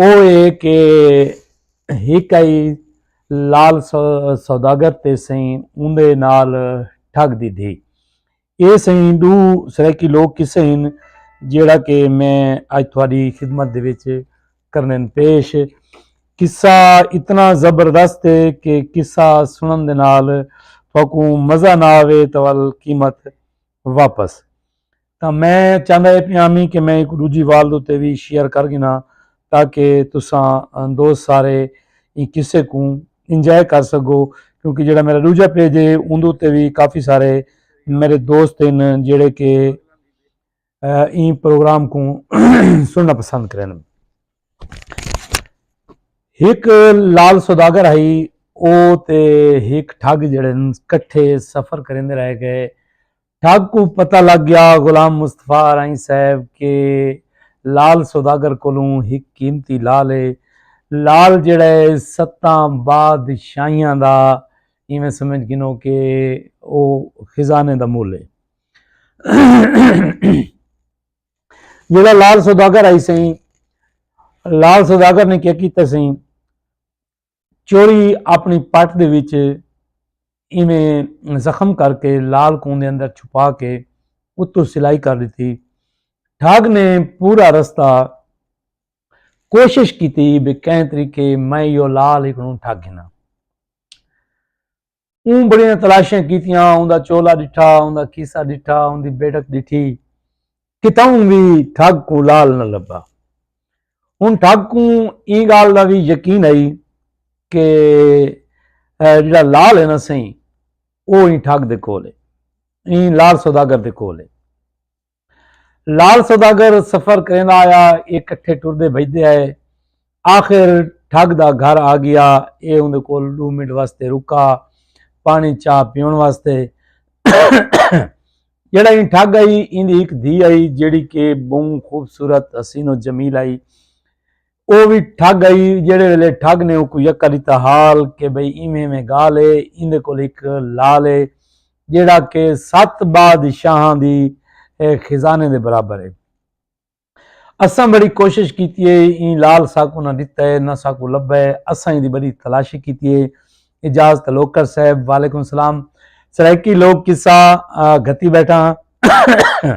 او اے کہ ہک آئی لال سوداگر تے سئیں اوندے نال ٹھگ دی دھی۔ اے سئیں ڈو سرائیکی لوک کسے ہن جیڑا کہ میں اج تھوڑی خدمت دے وچ کرنن پیش۔ قصہ اتنا زبردست ہے کہ قصہ سنن دے نال تھوکوں مزہ نہ آوے تو ول قیمت واپس۔ تاں میں چاہندا اے پیامی کہ میں ایکوں ڈوجھی والد اتے وی شیئر کر گھنا تاکہ تساں دوست سارے ایں قصے کوں انجوائے کر سگو کیونکہ جیڑا میرا ڈوجھا پیج اے اوندے اتے وی کافی سارے میرے دوست ہن جیڑے کہ ایں پروگرام کوں سنڑنا پسند کرن۔ ہک لال سوداگر ہئی او تے ہک ٹھگ جیڑے ہن کٹھے سفر کریندے رہ گئے۔ ٹھگ کوں پتہ لگ گیا غلام مصطفی ارائیں صاحب کہ لعل سوداگر کولوں ہک قیمتی لعل ہے۔ لعل جیڑھا ہے ستاں بادشاہیاں دا ایویں سمجھ گھنو کہ او خزانے دا مول ہے۔ جیڑھا لعل سوداگر آئی سئیں لعل سوداگر نے کیا کیتا سئیں چوری اپنی پٹ دے وچ ایویں زخم کر کے لال کون دے اندر چھپا کے اتو سلائی کر دیتی ٹھگ نے پورا رستہ کوشش کیتی بے کہیں طریقے میں یو لال ہکڑوں ٹھگ گھنا اوں بڑیاں تلاشیاں کیتیاں اوندا چولا ڈٹھا اوندا کیسا ڈٹھا اوندی بیٹک ڈٹھی کتاؤں وی ٹھگ کوں لال نہ لبا ہن ٹھگ کوں ایں گال دا وی یقین ہئی کہ جڑا لال ہے نا سہی او ایں ٹھگ دے کول ہے ایں لال سوداگر دے کول ہے لال سوداگر سفر کریندا آیا اے کٹھے ٹردے بھجدے آئے آخر ٹھگ دا گھر آ گیا اے اوندے کول ڈو منٹ واسطے رکا پانی چا پیون واسطے جڑا این ٹھگ آئی ایندی ایک دھی آئی جڑی کہ بوں خوبصورت حسین و جمیل آئی او وی ٹھگ ہئی جیڑھے ویلے ٹھگ نے اوکوں یکا ݙتا حال کہ بھئی ایویں ایویں ڳالھ اے ایندے کول ہک لعل اے جیڑھا کہ ست بادشاہاں دی خزانے دے برابر اے اساں بڑی کوشش کیتی اے ایں لعل ساکوں نہ ݙتا اے نہ ساکوں لبھا اے اساں ایندی بڑی تلاشی کیتی اے اجاز تلوکر صاحب وعلیکم السلام سرائیکی لوک قصہ گھتی بیٹھا ہاں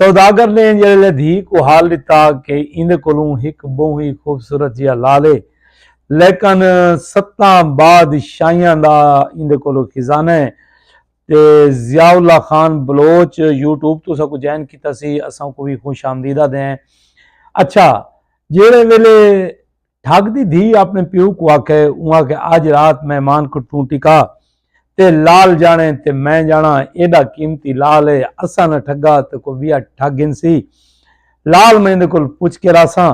سوداگر نے جیڑھے لے دھی کوں حال ݙتا کہ ایندے کولوں ہک ٻہوں ای خوبصورت جیہا لال ہے لیکن ستاں باد شاہیاں دا ایندے کولوں خزانہ ہے تے ضیاء اللہ خان بلوچ یوٹیوب توں اساں کوں جوائن کیتا سی اساں کوں وی خوش آمدیدہ دیں اچھا جیڑھے ویلے ٹھگ دی دھی اپنے پیو کوں آکھے اوں آکھے اج رات مہمان کوں توں ٹکا تے لال جانے تے میں جانا ایڈا قیمتی لال ہے اساں نہ ٹھگا تے کوئی ویا ٹھگ گھنسی لال میں دے کول پوچھ کے راساں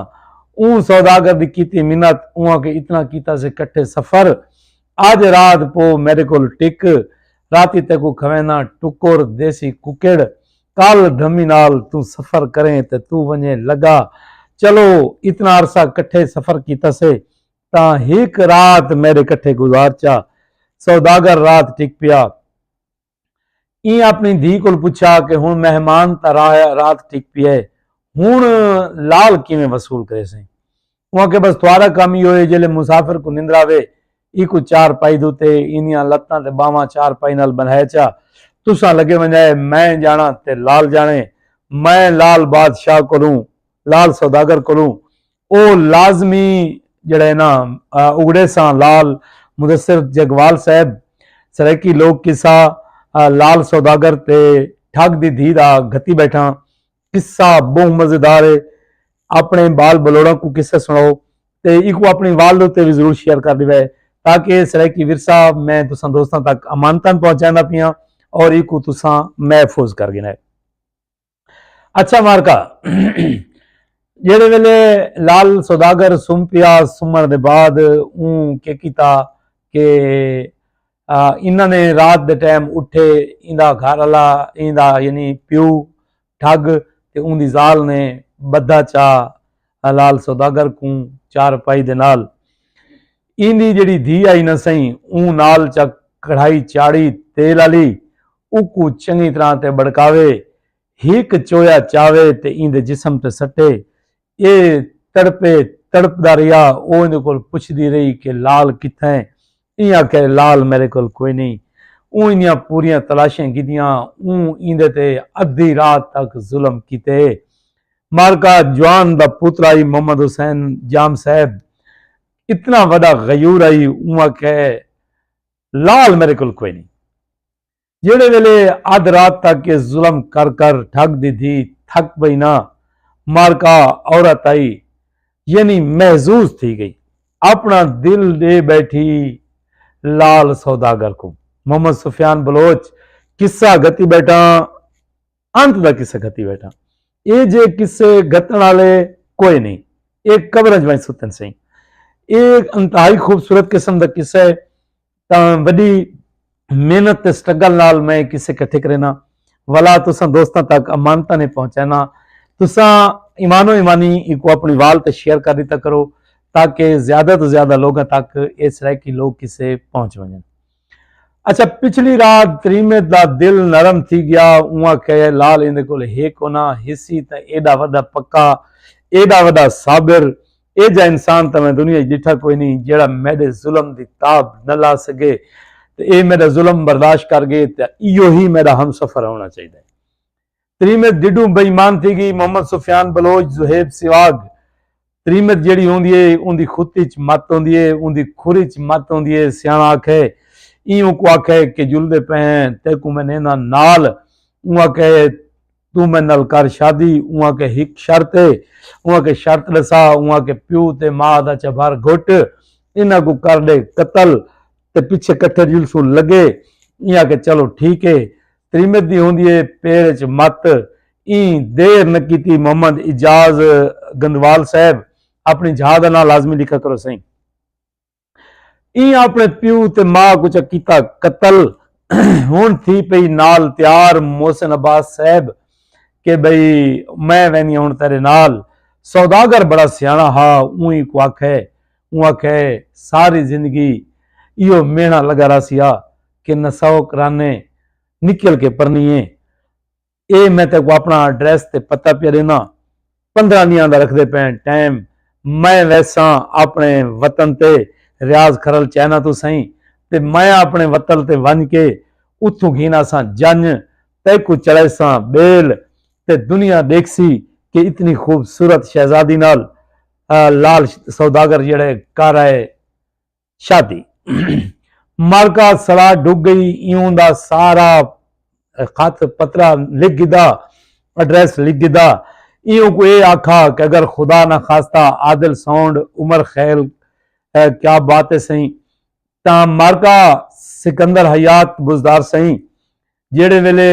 اوں سوداگر دی کیتی منت اوں آکھے اتنا کیتا سے کٹھے سفر آج رات پو میڈے کول ٹک راتی تیکو کھوینا ٹکر دیسی ککڑ کال دھمی نال توں سفر کریں تے توں ونجے لگا چلو اتنا عرصہ کٹھے سفر کیتا سے تاں ہک رات میڈے کٹھے گزار چا سوداگر رات ٹک پیا ایں اپݨی دھی کول پچھیا کہ ہݨ مہمان تاں رات ٹک پی اے ہݨ لال کیویں وصول کریسیں۔ اوں آکھیا بس تہاݙا کم ایہو اے جیلھے مسافر کوں نندر آوے ایکوں چار پائی دتے ایندیاں لتاں تے ٻانہواں چار پائی نال ٻندھائے چا تساں لڳے ونڄائے میں ڄاݨاں تے لال ڄاݨے میں لال بادشاہ کولوں لال سوداگر کولوں او لازمی جیڑھا ہے نا اگڑے ساں لال مدثر جگوال صاحب سرائیکی لوک قصہ لال سوداگر تے ٹھگ دی دھی دا گھتی بیٹھاں قصہ بہوں مزیدار ہے اپنے بال بلوڑاں کو قصہ سناؤ تے ایکو اپنی والد اتے بھی ضرور شیئر کر دیوے تاکہ سرائیکی ورثہ میں تساں دوستاں تک امانتاں پہنچائیں دا پیاں اور ایکو تساں محفوظ کر گنے اچھا مارکا جیڑے ویلے لال سوداگر سم پیا سمن دے بعد اون کے کیتا کہ انہاں نے رات دے ٹائم اٹھے ایندا گھر والا ایندا یعنی پیو ٹھگ تے اون دی زال نے بدھا چا حلال سوداگر کوں چارپائی دے نال ایندی جیڑھی دھی آئی نہ سئیں اوں نال چا کڑھائی چاڑھی تیل آلی اوکوں چنگی طرح تے بڑکاوے ہک چویا چاوے تے ایندے جسم تے سٹے اے تڑپے تڑپدا رہیا او ایندے کول پچھدی رہی کہ لال کتھاں ہے ایں آکھیا جو لعل میڈے کول کوئی نئیں، اوں ایندیاں پوریاں تلاشیاں کیتیاں، اوں ایندے تے ادھی رات تک ظلم کیتے۔ معرکہ جوان دا پوترا ہئی محمد حسین جام صاحب اتنا وڈا غیور ہئی، اوں آکھیا لعل میڈے کول کوئی نئیں۔ جیڑھے ویلے ادھ رات تک اے ظلم کر کر ڈھگ دی دھی تھک پئی نا مارکا عورت آئی یعنی محظوظ تھی گئی اپنا دل ڈے بیٹھی لال سوداگر کوں محمد سفیان بلوچ قصہ گھتی بیٹھاں انت دا قصہ گھتی بیٹھاں اے جے قصے گھتن آلے کوئی نہیں اے قبرنج بنج ستن سہیں اے انتہائی خوبصورت قسم دا قصہ ہے تاں وڈی محنت تے سٹرگل نال میں کسے کٹھے کرینا ولا تساں دوستاں تک امانتاں نے پہنچینا تساں ایمان و ایمانی کو اپنی وال تے شیئر کر دیتا کرو تاکہ زیادہ تو زیادہ لوگاں تک اے سرائیکی لوگ کسے پہنچ ونجن اچھا پچھلی رات تریمے دا دل نرم تھی گیا اواں کہے لال ایندے کول ہے کونا حصی تے ایڈا ودا پکا ایڈا ودا صابر اے جا انسان تاں میں دنیا اچ ڈٹھا کوئی نئیں جیڑھا میڈے ظلم دی تاب نہ لا سگے تے اے میڈا ظلم برداشت کر گئے تے ایہو ہی میڈا ہم سفر ہونا چاہیدا ہے۔ تریمت ڈڈوں بے ایمان تھی گئی محمد سفیان بلوچ زہیب سیواگ تریمت جیڑھی ہوندی ہے اوندی خط اچ مت ہوندی ہے اوندی کھر اچ مت ہوندی ہے سیاݨا آکھے ایں اونکوں آکھے کہ جلدے پئے ہیں تیکوں میں نیندا نال اوں آکھے توں میں نال کر شادی، اوں آکھیا ہک شرط ہے، اوں آکھیا شرط ڈسا، اوں آکھیا پیو تے ماء دا چبھر گھٹ، انہاں کوں کر ڈے قتل تے پچھے کٹھے جلسوں لگے، ایں آکھیا چلو ٹھیک ہے، تریمت دی ہوندی ہے پیر اچ مت، ایں دیر نہ کیتی محمد اعجاز گندوال صاحب اپنی جھا دا ناں لازمی لکھا کرو سئیں۔ ایں اپنے پیو تے ماء کچا کیتا قتل ہن تھی پئی نال تیار محسن عباس صاحب کہ بھئی میں وینی ہن تیرے نال سوداگر بڑا سیانا ہا اونہی کو آکھے اون آکھے ساری زندگی ایو میڑا لگا راسیا کہ نسو کرانے نکل کے پرنیے اے میں تے کو اپنا ایڈریس تے پتہ پیا ڈینا پندرہ دیاں دا رکھ دے پین ٹائم میں ویساں اپنے وطن تے ریاض کھرل چائنا تو سائیں تے میں اپنے وطن تے ونج کے اتھوں گھینا ساں جنج تے کو چڑھے ساں بیل تے دنیا دیکھ سی کہ اتنی خوبصورت شہزادی نال لال سوداگر جڑے کر آئے شادی مالکا سڑا ڈگ گئی ایوں دا سارا خط پترا لکھ گدا ایڈریس لکھ گدا ایوں کو اے آکھا کہ اگر خدا نہ خاصتا عادل سونڈ عمر خیل کیا بات ہے سہی تاں مالکا سکندر حیات بزدار سہی جیڑے ویلے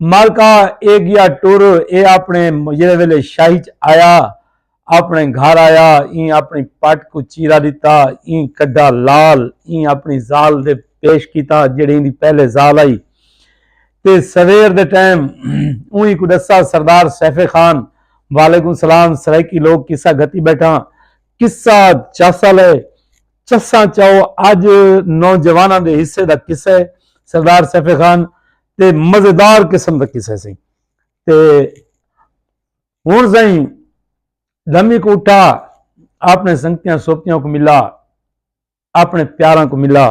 مالکا اے گیا ٹر اے اپنے جیڑھے ویلے شاہی ءچ آیا اپنے گھر آیا ایں اپنی پٹ کوں چیرا ݙتا ایں کڈھا لال ایں اپنی ذال دے پیش کیتا جیڑھی ایندی پہلے ذال ہئی تے سویر دے ٹائم اوہیں کوں ݙسا سردار سیف خان وعلیکم سلام سرائیکی لوک قصہ گھتی ٻیٹھاں قصہ چاسا لئے چساں چاؤ اج نوجواناں دے حصے دا قصہ ہے سردار سیف خان تے مزیدار قسم دا قصہ سی تے ہن سائیں دمی کو اٹھا اپنے سنگتیاں سوپتیاں کو ملا اپنے پیاراں کو ملا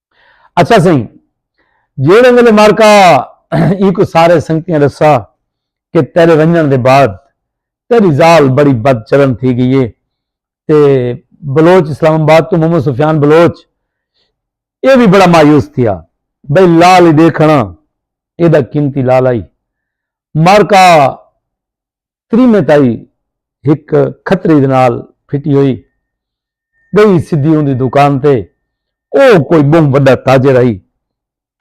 اچھا سائیں جیڑے ویلے مارکا ای کو سارے سنگتیاں رسا کہ تیرے ونجن دے بعد تیری زال بڑی بد چلن تھی گئی ہے تے بلوچ اسلام آباد تو محمد سفیان بلوچ اے بھی بڑا مایوس تھیا بھئی لال ہی دیکھنا اے دا قیمتی لال آئی مارکا تریمیں تائی ہک کھتری دے نال پھٹی ہوئی گئی سدھی اوندی دکان تے او کوئی بہوں وڈا تاجر ہئی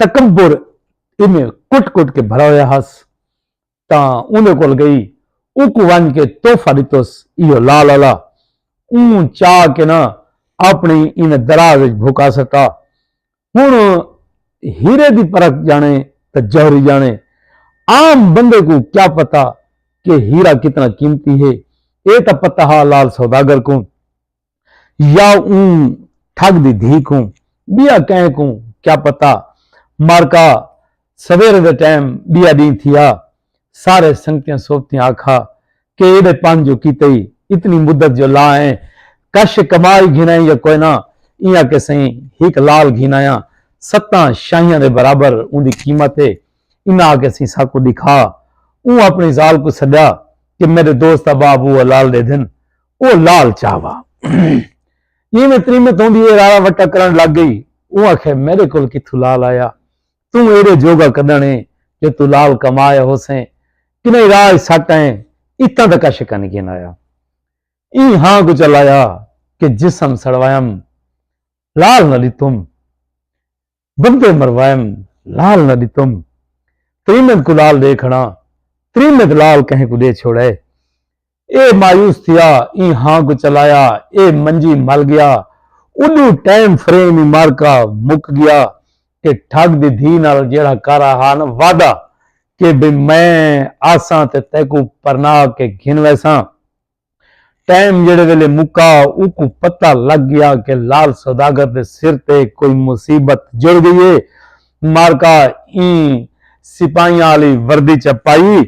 تکبر ایویں کٹ کٹ کے بھرا ہویا ہس تاں اوندے کول گئی اوکوں ونج کے تحفہ ڈتس ایہو لا لالا اوں چا کے نہ اپنڑی انہیں دراز وچ بھکا سٹا ہݨ ہیرے دی پرکھ ڄاݨے تاں جوہری ڄاݨے، عام بندے کوں کیا پتہ کہ ہیرا کتنا قیمتی ہے، اے تاں پتہ ہا لال سوداگر کوں یا اوں ٹھگ دی دھی کوں، ٻیا کئیں کوں کیا پتہ، مارکا سویرے دے ٹیم ٻیا ݙینہہ تھیا۔ سارے سنگتیاں سوبتیاں آکھا کہ ایݙے پن جو کیتے ای اتنی مدت جو لا آئے ہیں کش کما ای گھن آئیں یا کوئے نہ ایاں کہ سئیں ہک لال گھن آیاں ستاں شاہیاں دے برابر اوندی قیمت ہے انہاں آکھیا سئیں ساکوں ݙکھا۔ اوں اپݨی ذال کوں سݙیا کہ میݙے دوست احباب او لال ݙے دھن۔ او لال چا وا۔ جیویں تریمت ہوندی ہے راڑا وٹا کرݨ لگ ڳئی۔ اوں آکھیا میݙے کول کتھوں لال آیا۔ توں ایرے جوگا کدن ایں جو توں لال کما آیا ہوسیں کنئی راہ اچ سٹ آئیں اتاں تک عشق کن گھن آیا ایں ہاں کوں چلایا کہ جسم سڑوائم لال نہ ڈتم بندے مروائم لال نہ ڈتم تریمت کوں لال ڈے کھڑاں تریمت لال کہیں کوں ڈے چھوڑے۔ اے مایوس تھیا ایں ہاں کوں چلایا اے منجی مل گیا اڈوں ٹائم فریم ای معرکہ مک گیا کہ ٹھگ دی دھی نال جیڑھا کر آہا نا وعدہ کہ بھئی میں آساں تے تیکوں پرنا کے گھن ویساں ٹائم جیڑھے ویلے مکا اوکوں پتہ لگ گیا کہ لال سوداگر دے سر تے کوئی مصیبت جڑ گئی اے معرکہ ایں سپاہیاں آلی وردی چا پائی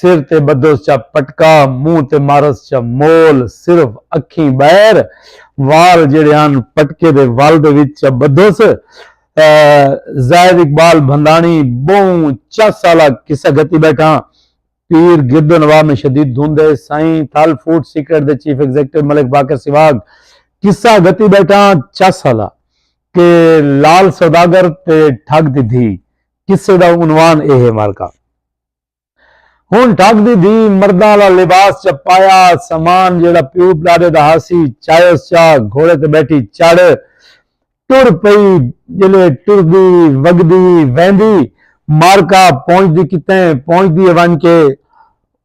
سر تے بدھوس چا پٹکا، منہ تے مارس چا مول، صرف اکھیں ٻہر، وال جیڑھے ہن پٹکے دے ول دے وچ چا بدھوس۔ زاہد اقبال بھنداݨی ٻہوں چا سالہ قصہ گھتی ٻیٹھاں، پیر گرد و نواح میں شدید دھند ہے، سائیں تھل فوڈ سیکرٹ دے چیف ایگزیکٹو ملک باقر سواگ قصہ گھتی ٻیٹھاں، چا سالہ کہ لال سوداگر تے ٹھگ دی دھی، قصے دا عنوان اے ہے مالکا۔ ہن ٹھگ دی دھی مرداں آلا لباس چا پایا، سامان جیڑھا پیو ݙاݙے دا ہاسی چایوس چا گھوڑے تے ٻیٹھی چڑھ ٹر پئی، جیلے ٹردی وڳدی ویندی معرکہ پہنچدی کتیں پہنچدی ہے ونڄ کے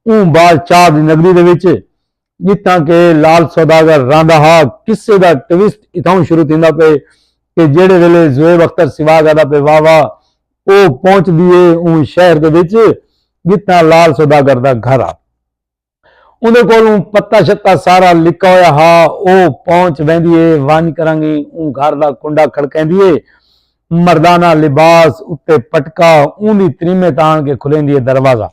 اوں بادشاہ دی نگری دے وچ جتھاں کہ لال سوداگر رہندا ہا، قصے دا ٹویسٹ اتھاؤں شروع تھیندا پئے کہ جیڑھے ویلے زویب اختر سواگ آدا پئے واہ واہ او پہنچدی اے اوں شہر دے وچ جتھاں لال سوداگر دا گھر ہا۔ اوندے کولوں پتہ شتہ سارا لکھا ہویا ہا۔ او پہنچ ویندی اے ونج کرانگیں اوں گھر دا کنڈا کھڑکیندی اے۔ مردانہ لباس اتے پٹکا اوندی تریمے تے آن کے کھلیندی اے دروازہ۔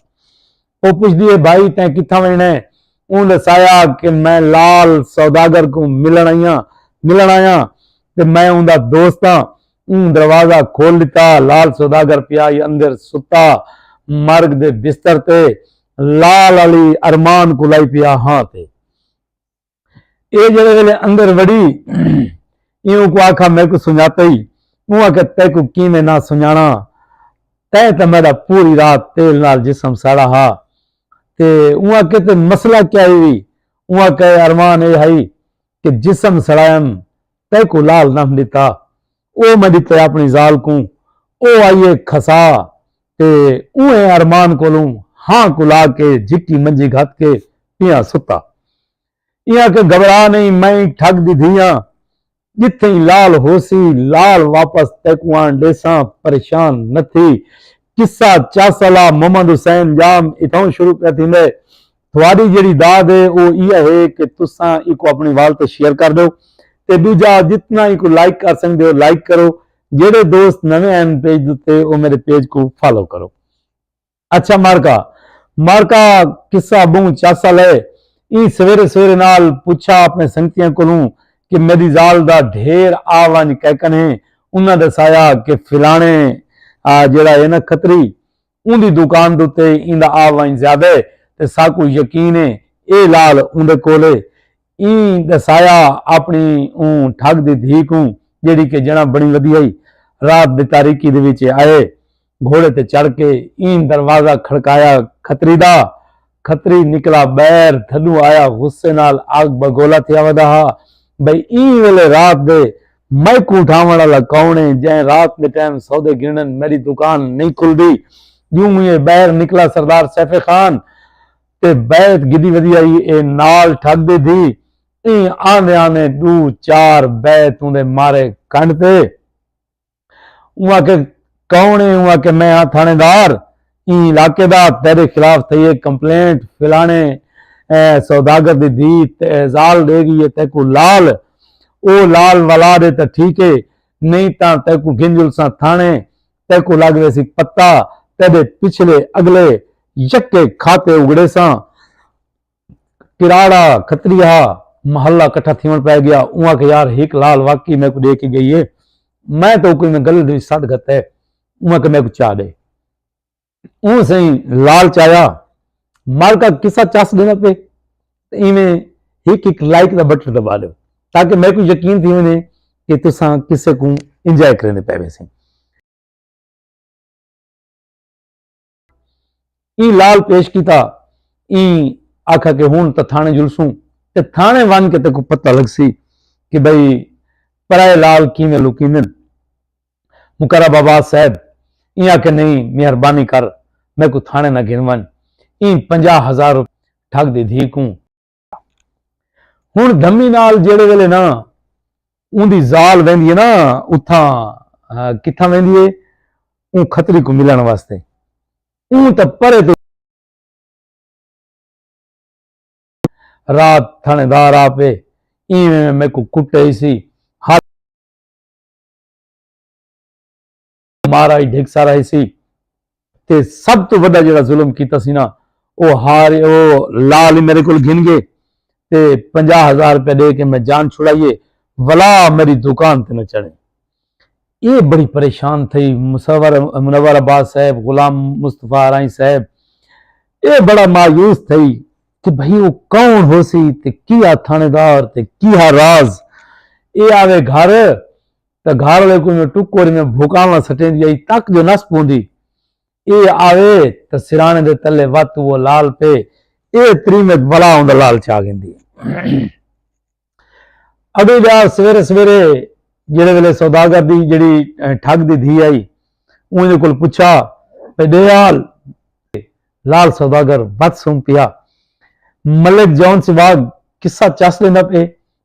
او پچھدی ہے بھائی تیں کتھاں ونجنڑاں ہے؟ اوں ڈسایا کہ میں لال سوداگر کوں ملنڑ آیاں ملنڑ آیاں تے میں اوندا دوست آں۔ اوں دروازہ کھول ڈتا۔ لال سوداگر پیا ہئی اندر ستا مرگ دے بستر تے لال آلی ارمان کوں لائی پیا ہاں تے۔ اے جیڑھے ویلے اندر وڑی ایں اونکوں آکھا میکوں سنجاتے ای؟ اوں آکھیا تیکوں کیویں نہ سنجاݨاں تیں تاں میݙا پوری رات تیل نال جسم ساڑا ہا تے اوں آکھیا تے مسئلہ کیا ای وی؟ اوں آکھیا اے اروان اے ہئی کہ جسم سڑائم تیکوں لال نہ ݙتا۔ او میں ݙتے آپݨی ذال کوں او آئیے کھسا تے اونہہ ارمان کولوں ہاں کلا کے جھکی منجی گھت کے پیاں ستا ایاں کہ گھبرا نئیں میں ٹھگ دی دھی آں ڄتھئیں لال ہوسی لال واپس تیکوں آن ݙیساں پریشان نہ تھی قصہ چاسلا محمد حسین ڄام اتھاؤں شروع پیا تھیندے تہاݙی جیڑھی داد ہے او ایہا ہے کہ تساں ایکوں اپݨے وال تے شیئر کر ݙیو تے ݙوجھا جتنا ایکوں لائک کر سڳدے ہو لائک کرو جیڑھے دوست نویں ہن پیج دے اتے او میݙے پیج کوں فالو کرو اچھا مارکا مارکا قصہ ٻہوں چاسل ہے ایں سویرے سویرے نال پچھا اپݨے سنگتیاں کولوں کہ میݙی ذال دا ڈھیر آ ونڄ کیکن ہے انہاں ݙسایا کہ فلاݨے جیڑھا ہے نا کھتری اوندی دکان دے اتے ایندا آ ونڄ زیادہ ہے تے ساکوں یقین ہے اے لال اوندے کول ہے۔ ایں ݙسایا آپݨی اوں ٹھڳ دی دھی کوں جیڑھی کہ جݨاں بݨی ودی ہئی۔ رات دی تاریکی دے وچ آئے گھوڑے تے چڑھ کے ایں دروازہ کھڑکایا کھتری دا۔ کھتری نکلا ٻہر تھڈوں آیا غصے نال آگ بگولا تھیا ودا ہا بھئی ایں ویلے رات دے میکوں اٹھاوݨ آلا کون اے جئیں رات دے ٹائم سودے گھنݨن میڈی دکان نئیں کھلدی ڄوں موں اے ٻہر نکلا سردار سیف خان تے بیعت گھدی ودی ہئی اے نال ٹھگ ݙیدھی ایں آندے آندے ݙو چار بیعت اوندے مارے کنڈ تے اوں آکھیا کون اے؟ اوں آکھیا میں ہاں تھاݨے دار ایں علاقے دا، تیݙے خلاف تھئی اے کمپلینٹ، فلاݨے سوداگر دی دھی ذال ݙے ڳئی اے تیکوں لال او لال ولا ݙے تاں ٹھیک اے نئیں تاں تیکوں گھن جلساں تھاݨے تیکوں لڳ ویسی پتہ تیݙے پچھلے اڳلے یکے کھاتے اڳڑیساں۔ کراڑا کھتری ہا محلہ کٹھا تھیون پے گیا اوں آکھے یار ہک لال واقعی میکو ڈے کے گئی ہے میں تو کوئی میں گلے دی سٹ گھت ہے اوں آکھے میکو چا دے اوں سائیں لال چایا مال کا قصہ چس دینا پے ایویں ہک ہک لائک دا بٹن دبا دیو تاکہ میکو یقین تھی ہونے کہ تساں کسے کو انجوائے کرنے پے ویسے ایں لال پیش کیتا ایں آکھا کہ ہن تاں تھانے جلسوں تے تھانے ون کے تے کو پتہ لگ سی کہ بھئی پرائے لال کیویں لکیندن مقرب آباد صاحب ایں آکھے نہیں مہربانی کر میں کو تھانے نہ گھن ون ایں پنجاہ ہزار روپے ٹھگ دی دھی کوں ہوں دھمی نال جیڑے ویلے نا ان دی زال ویندی ہے نا اتھاں کتھاں ویندی ہے اون خطری کو ملن واسطے اون تے پرے تو رات تھانے دار آ پے ایویں میں کو کٹے سی مارا ہی ڈھگ سارا ہی سی تے سب تو وڈا جڑا ظلم کیتا سی نا او ہار او لال میرے کول گھن گئے تے پنجا ہزار روپے دے کے میں جان چھڑائیے ولا میری دکان تے نہ چڑھے یہ بڑی پریشان تھی مصور منور عباس صاحب غلام مصطفیٰ آرائی صاحب یہ بڑا مایوس تھی کہ بھئی وہ کون ہو سی تے کیا تھانے دار تے کیا راز یہ آوے گھر تاں گھر والے کوں ایویں ٹکر ایویں بھوکاواں سٹیندی آئی تک جو نس پوندی اے آوے تاں سرانے دے تلے وت اوہ لال پے اے تریمت بلا اوندا لال چا گھندی اڈو جا سویرے سویرے جڑے ویلے سوداگر دی جڑی ٹھگ دی دھی آئی اون دے کول پچھا پے دے آل لال سوداگر بد سن پیا ملک جون سواگ قصہ چس دیندا پے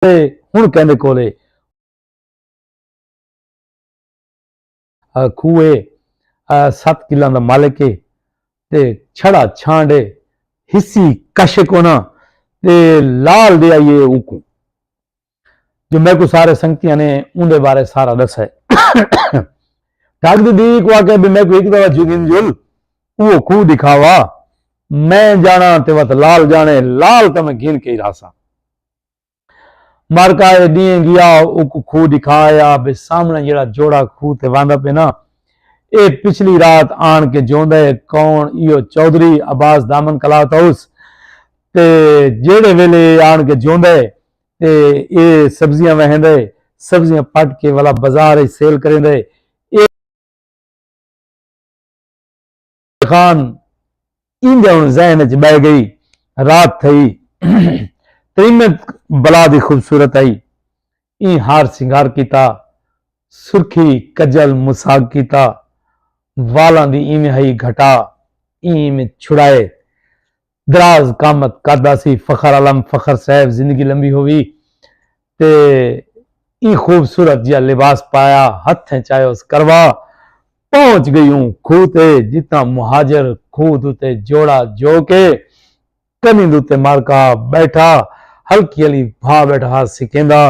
تے ہن کیندے کول اے۔ کھوہ اے ست کلاں دا مالک اے تے چھڑا چھانڈ اے حصی کش کونا تے لال دے آئی اے اوکوں جو میکوں سارے سنگتیاں نے اوندے بارے سارا دسے ڈھگ دی دیوی کو آکے بھی میکوں ایک دوا جوگین جل او کھو دکھاوا میں جانا تے وت لال جانے لال تے میں گھن کے ہی راسا۔ مرکا اے ڈینہہ گیا اوکوں کھوہ ڈکھا آیا بھئی سامنے جیڑھا جوڑا کھوہ تے واندا پئے نا اے پچھلی رات آن کے جوندا اے کون ایہو چودھری عباس دامن کلات ہاؤس تے جیڑھے ویلے اے آن کے جوندا اے تے اے سبزیاں وہیندا اے سبزیاں پٹ کے ولا بزار اچ سیل کریندا اے اے خان ایندے ہن ذہن اچ بہہ گئی۔ رات تھئی۔ تریمت بلا دی خوبصورت آئی۔ ایں ہار سنگار کیتا۔ سرخی کجل مساگ کیتا۔ والاں دی ایویں ہئی گھٹا۔ ایں ایویں چھڑائے۔ دراز قامت قد آسی فخر عالم فخر صاحب زندگی لمبی ہووی تے ایں خوبصورت جیا لباس پایا ہتھیں چایوس کروا پہنچ گئی اوں کھوہ تے جتھاں مہاجر کھوہ دوتے جوڑا جو کے کنی دوتے مارکا بیٹھا ہلکی ہلی بھا بیٹھا ہا سکیندا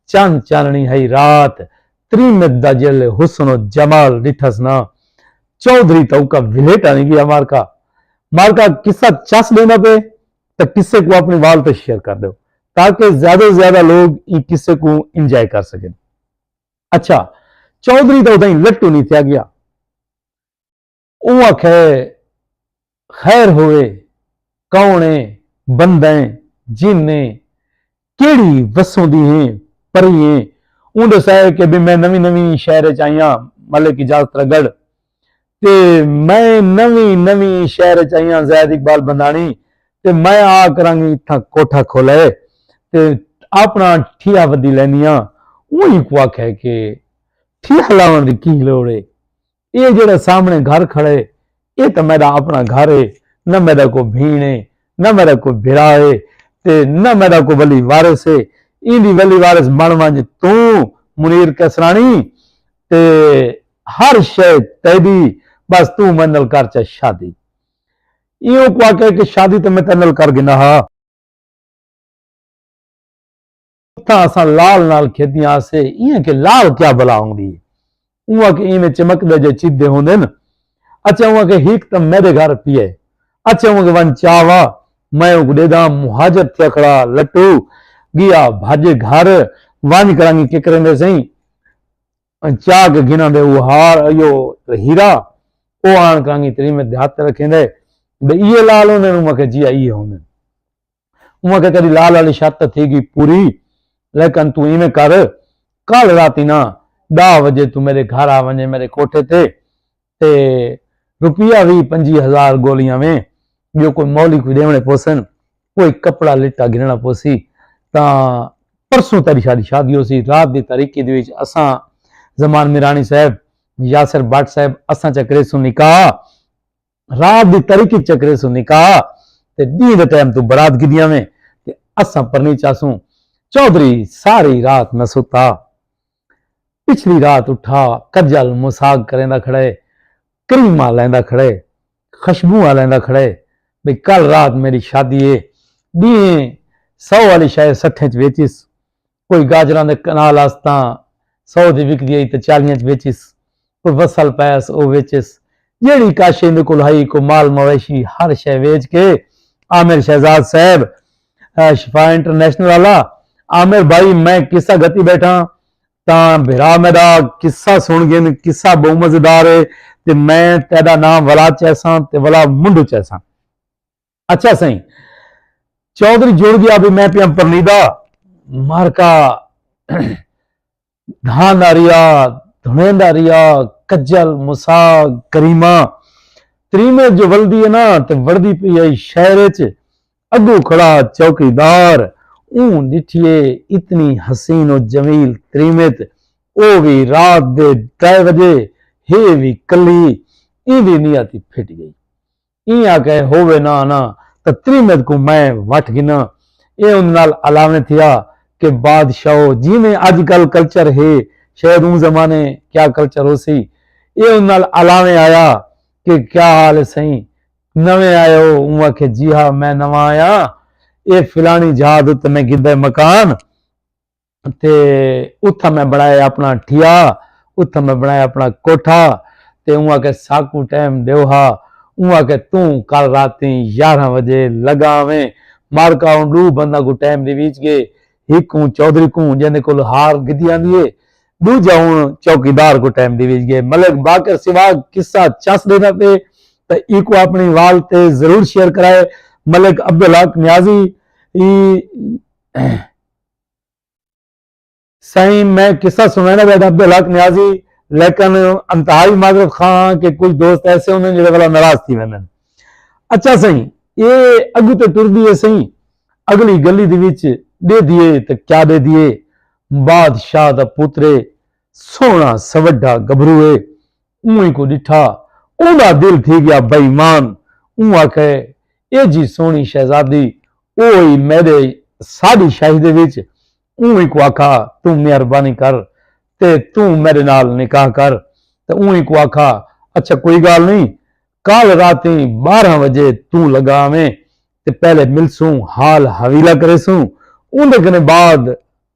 چن چاننی ہئی رات تریمت دا جیہلے حسن و جمال ڈٹھس نا چوہدری تاں اوکا ولیٹ آنی گیا مارکا مارکا قصہ چس ڈیندا پئے تاں قصے کوں اپنی وال تے شیئر کر ڈیو تاکہ زیادہ و زیادہ لوگ ایں قصے کوں انجوائے کر سکن اچھا چوہدری دا ادائیں لٹو نی تھیا گیا۔ اوں آکھیا ہے خیر ہووے کون اے بندہ جن نے کیڑھی وسوندی ہیں پری ایں اوں ڈسایا ہے کہ بی میں نویں نویں شہر اچ آئیاں ملک اجاز ترگڑھ تے میں نویں نویں شہر اچ آئیاں زید اقبال بنداݨی تے میں آ کرانگی اتھاں کوٹھا کھولئے تے اپنا ٹھیہ ودی لیندی آں اوں ہیکوں آکھیا ہے کہ ٹھیہ لاوݨ دی کی لوڑ اے اے جیڑھا سامنے گھر کھڑا ہے اے تاں میڈا اپنا گھر ہے نہ میڈا کوئی بھین ہے نہ میڈا کوئی بھرا ہے تے نہ میڈا کوئی ولی وارث ہے ایندی ولی وارث بن ونج توں منیر کسرانی تے ہر شے تیڈی بس توں میں نال کر چا شادی ایوں کو آکھے کہ شادی تے میں تیڈے نال کر گھنا ہا۔ اتھاں اساں لال نال کھیدیاں ہاسے ایئں کہ لال کیا بلا ہوندی ہے اونہاں کہ ایویں چمکدے جے چیدھے ہوندے ن اچھا اونہاں کہ ہیک تاں میڈے گھر پی اے اچھا اونہاں کہ ون چا وا میں اونکوں ڈیدھاں مہاجر تھیا کھڑا لٹو گیا بھج گھر ونج کرانگی کے کریندے سئیں چا کے گھناں دے او ہار ایو ہیرا او آن کرانگی تری میں دیہات رکھیندے بے ایے لال ہوندے اونہاں کہ جی ایے ہوندے انہاں کے کدی لال والی شرط تے تھی گی پوری لیکن تو ایویں کر کل راتی نا ڈا وجے تو میرے گھر آ ونجے میرے کوٹھے تے تے روپیہ وی پنجی ہزار گولیاں ویں جو کوئی مولی کوئی دیونے پوسن کوئی کپڑا لٹا گھننا پوسی تا پرسوں تیری شادی شادی ہو سی رات دی تاریخی دی وچ اساں زمان میرانی صاحب یاسر بٹ صاحب اساں چکرے سن نکاح رات دی تاریکی چکرے سوں نکاح تے ڈینہہ دے ٹائم توں برات گھدی آویں تے اساں پرنی چاسوں۔ چوہدری ساری رات نہ ستا۔ پچھلی رات اٹھا کجل مساگ کریندا کھڑے، کریماں لیندا کھڑے، خشبوواں لیندا کھڑے بھئی کل رات میڈی شادی اے۔ ڈینہہ سو آلی شے سٹھیں اچ ویچیس۔ کوئی گاجراں دے کنال آستاں سو دی وکدی ہئی تاں چالیاں اچ ویچیس۔ کوئی وسل پیس او ویچیس۔ جیڑھی کاشی ایندے کول ہئی کوئی مال مویشی ہر شے ویچ کے عامر شہزاد صاحب شفا انٹرنیشنل آلا عامر بھائی میں قصہ گھتی بیٹھاں تاں بھرا میڈا قصہ سن گھن قصہ بہوں مزیدار ہے تے میں تیڈا ناں ولا چیساں تے ولا منڈو چیساں۔ اچھا سائیں چودھری جڑ گیا بھی میں پیام پرنیدا مارکا دھان ریا دھنین دا ریا کجل مسا کریما تریمے جو ولدی ہے نا تے وردی پی آئی شہر چ اگو کھڑا چوکی دار اون ڈٹھیے اتنی حسین و جمیل تریمت او بھی رات دے ڈھائی بجے ہے بھی کلی ایندی نیاتی پھٹ گئی ایں آکھئے ہووے نہ آنا تاں تریمت کوں میں وٹھ گھناں۔ اے اوندے نال الاویں تھیا کہ بادشاہو جیویں اج کل کلچر ہے شاید اوں زمانے کیا کلچر ہوسی۔ اے اوندے نال الاویں آیا کہ کیا حال ہے سئیں؟ نویں آئے ہو؟ اوں آکھئے جی ہا میں نواں آیاں۔ اے فلانی جھا دے اتے میں گھدئے مکان۔ تے اتھاں میں بنڑائے اپنا ٹھیا اتھاں میں بنڑائے اپنا کوٹھا تے اوں آکھے ساکوں ٹیم ڈیو ہا اوں آکھے توں کل راتیں یارھاں وجے لگا آویں مارکا اوں ڈو بنداں کوں ٹیم ڈیویج گے ہک اوں چوہدری کوں جیندے کول ہار گدھی آندی ہے ڈوجھا اوں چوکیدار کوں ٹیم ڈیویج گے ملک باقر سوا قصہ چس ڈینا پے تے ایکوں اپنی وال تے ضرور شیئر کرائے ملک عبدالحق نیازی ای سائیں میں قصہ سنانا بیٹھا عبد الحق نیازی لیکن انتہائی معذرت خان کہ کچھ دوست ایسے ہوندے جڑے والا ناراض تھی ویندے اچھا سائیں اے اگو تے ٹر دیے سائیں اگلی گلی دی وچ ڈے دیے تے کیا ڈے دیے بادشاہ دا پوترے سونا سوڈا گبرو اے اونہی کوں ݙٹھا۔ اوندا دل تھی ڳیا بے ایمان۔ اوں آکھے ایجھی سوہݨی شہزادی او ہئی میݙے ساݙی شاہی دے وچ۔ اونہی کوں آکھا توں مہربانی کر تے توں میݙے نال نکاح کر۔ تے اونہی کوں آکھا اچھا کوئی ڳالھ نئیں کل راتیں ٻارہاں وڄے توں لڳا آویں تے پہلے ملسوں حال حویلہ کریسوں اوندے کنیں بعد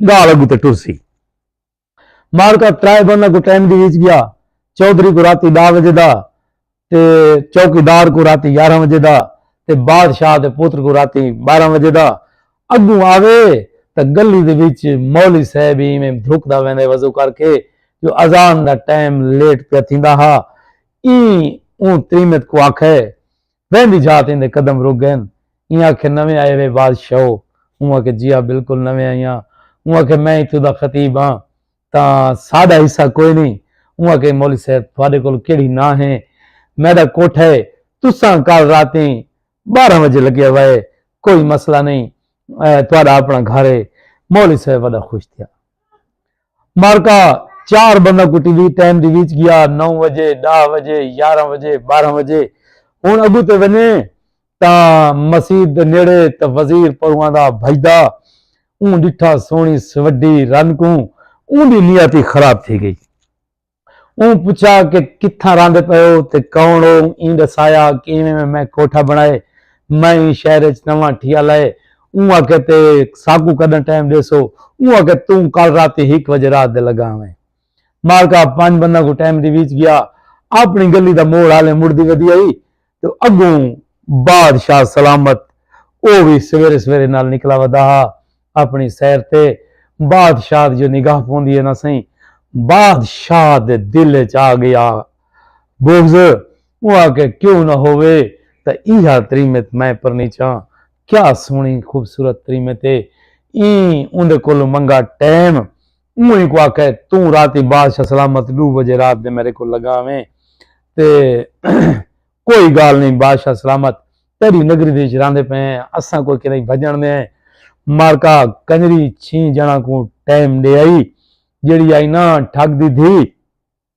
ڳالھ اڳتے ٹرسی۔ معرکہ ترائے بنداں کوں ٹائم دی ویچ گیا۔ چوہدری کوں راتی ڈاہ وجے دا تے چوکی دار کوں راتی یارھاں وجے دا تے بادشاہ دے پتر کوں راتی بارھاں وجے دا اگوں آوے تاں گلی دے وچ مولی صاحب ای میں دھکدا ویندے وضو کر کے جو اذان دا ٹائم لیٹ پیا تھیندا ہا ای اوں تریمت کوں آکھے ویندی جھات ایندے قدم رک گئن۔ ایں آکھے نویں آئے وے بادشاہو۔ اوں آکھے جیا بالکل نویں آئیاں۔ اوں آکھے میں اتھوں دا خطیب ہاں تاں ساڈا حصہ کوئے نئیں۔ اوں آکھے مولوی صاحب تھوڈے کول کیڑھی ناں ہے۔ میڈا کوٹھا ہے۔ تساں کل راتیں بارہ وجے لگیا وائے۔ کوئی مسئلہ نئیں۔ تھوڈا اپنا گھر ہے۔ مولوی صاحب وڈا خوش تھیا۔ معرکہ چار بندہ کوں ٹی وی ٹائم دی ویچ گیا نو وجے ڈاہ وجے یارہ وجے بارہ وجے ہن اگوں تے ونجے تاں مسیت دے نیڑے تاں وزیر پروں آندا بھجدا اوں ڈٹھا سوہنی سوڈی رن کوں اوندی نیت ہی خراب تھی گئی۔ اوں پچھا کہ کتھاں راہندے پئے ہو تے کون ہو؟ ایں ڈسایا کہ ایویں میں میں کوٹھا بنڑائے میں ایں شہر اچ نواں ٹھیا لائے۔ اوں آکھیا تے ساکوں کڈاں ٹائم ڈیسو؟ اوں آکھیا توں کل راتی ہک وجے رات دے لگا آویں۔ مالکا پنج بنداں کوں ٹائم ڈیویچ گیا۔ اپنڑی گلی دا موڑ ہالیں مڑدی ودی ہئی۔ تے اڳوں بادشاہ سلامت او وی سویرے سویرے نال نکلا ودا ہا اپݨی سیر تے بادشاہ دی جو نگاہ پوندی ہے نا سئیں بادشاہ دے دل اچ آ گیا بغض او آکھے کیوں نہ ہووے تاں ایہا تریمت میں پرنیچاں کیا سوہݨی خوبصورت تریمت ہے ایں اوندے کولوں منگا ٹیم اوں ہیکوں آکھے توں راتی بادشاہ سلامت ڈو بجے رات دے میڈے کول لگا ویں تے کوئی گال نئیں بادشاہ سلامت تیڈی نگری دے وچ راندے پئے ہیں اساں کوئی کدھیں بھجن دے ہیں مارکا کنجری چھیں جنہاں کوں ٹائم ڈے آئی جیڈی آئی ناں ٹھگ دی دھی۔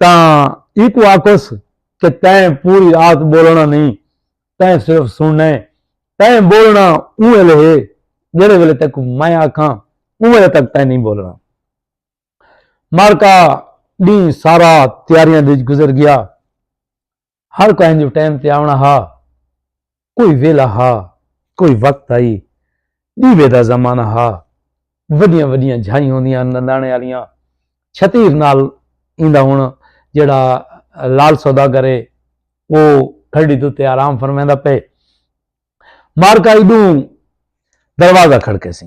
تاں ایکوں آکھوس کہ تیں پوری رات بولنڑاں نئیں، تیں صرف سنڑنڑاں اے، تیں بولنڑاں اوں ویلے ہے جیڑھے ویلے تیکوں میں آکھاں، اوں ویلے تک تیں نئیں بولنڑاں۔ معرکہ ڈینہہ سارا تیاریاں دے وچ گزر گیا۔ ہر کہیں جو ٹائم تے آونا ہا کوئی ویلا ہا کوئی وقت آئی دیوے دا زمانہ ہا وڈیاں وڈیاں جھائیں ہوندیاں نندانے والیاں چھتیر نال ایندا ہن جڑا لال سودا کرے وہ کھڑی تو تے آرام فرمیندا پے مارکا ایڈوں دروازہ کھڑکے سی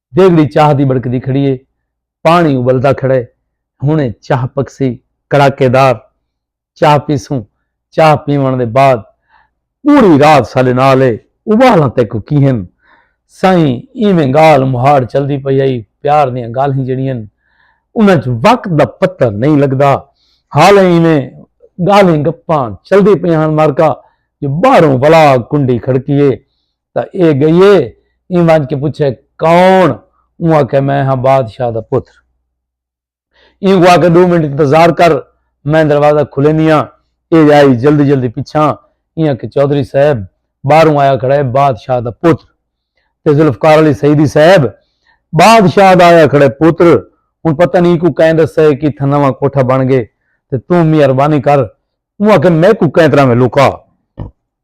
دیگڑی چاہ دی بڑکدی کھڑی ہے۔ پاݨی ابلدا کھڑا ہے۔ ہݨیں چاہ پکسی۔ کڑاکے دار چاہ پیسوں۔ چاہ پیوݨ دے بعد پوری رات ساݙے نال ہے۔ ابالاں تیکوں کی ہن سئیں؟ ایویں ڳالھ مہاڑ چلدی پئی ہئی۔ پیار دیاں ڳالھیں جیڑھیاں ہن انہاں اچ وقت دا پتہ نئیں لڳدا۔ حالیں ایویں ڳالھیں گپاں چلدی پیاں ہن مارکا جو ٻاہروں ولا کنڈی کھڑکی ہے۔ تاں اے گئیے ایں ونج کے پچھے کون اوں آکھے میں ہاں بادشاہ دا پتر ایں کوں آکھے ڈو منٹ انتظار کر میں دروازہ کھلیندیاں اے آئی جلدی جلدی پچھاں ایں آکھے چوہدری صاحب باہروں آیا کھڑا ہے بادشاہ دا پتر تے ذوالفقار علی سیدی صاحب بادشاہ دا آیا کھڑے پتر ہن پتہ نہیں کو کہیں دسے کہ تھا نواں کوٹھا بن گئے تے توں مہربانی کر اوں آکھے میں کو کہیں طرح میں لکا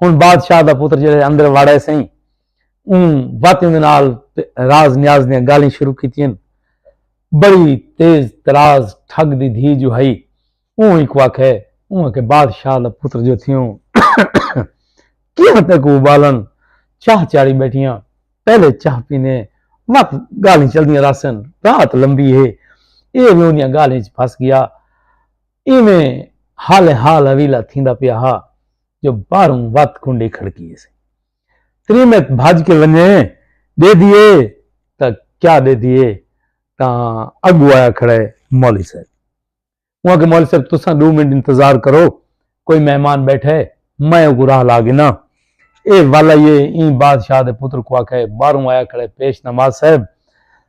ہن بادشاہ دا پتر جیڑھے اندر وڑے سئیں اوں وت دے نال راز نیاز دیاں گالیں شروع کیتیاں بڑی تیز تراز ٹھگ دی دھی جو ہئی اوں ہی کو آکھے اوں کہ بادشاہ دا پتر جو تھیوں کیا تے کو بالن چاہ چاڑی بیٹھیاں پہلے چاہ پینے وت گالیں چلدیاں راسن رات لمبی ہے اے ویوں دیاں گالیں پھس گیا ایویں حال حال اویلا تھیندا پیا ہا جو باہروں وت کنڈی کھڑکی سی تریمت بھج کے ونجے دے دیے تا کیا دے دیے تا اگو آیا کھڑے مولی صاحب وہاں کے مولی صاحب تساں دو منٹ انتظار کرو کوئی مہمان بیٹھے میں اگو راہ لا گنا اے والا یہ این بادشاہ دے پتر کو آکھے باروں آیا کھڑے پیش نماز صاحب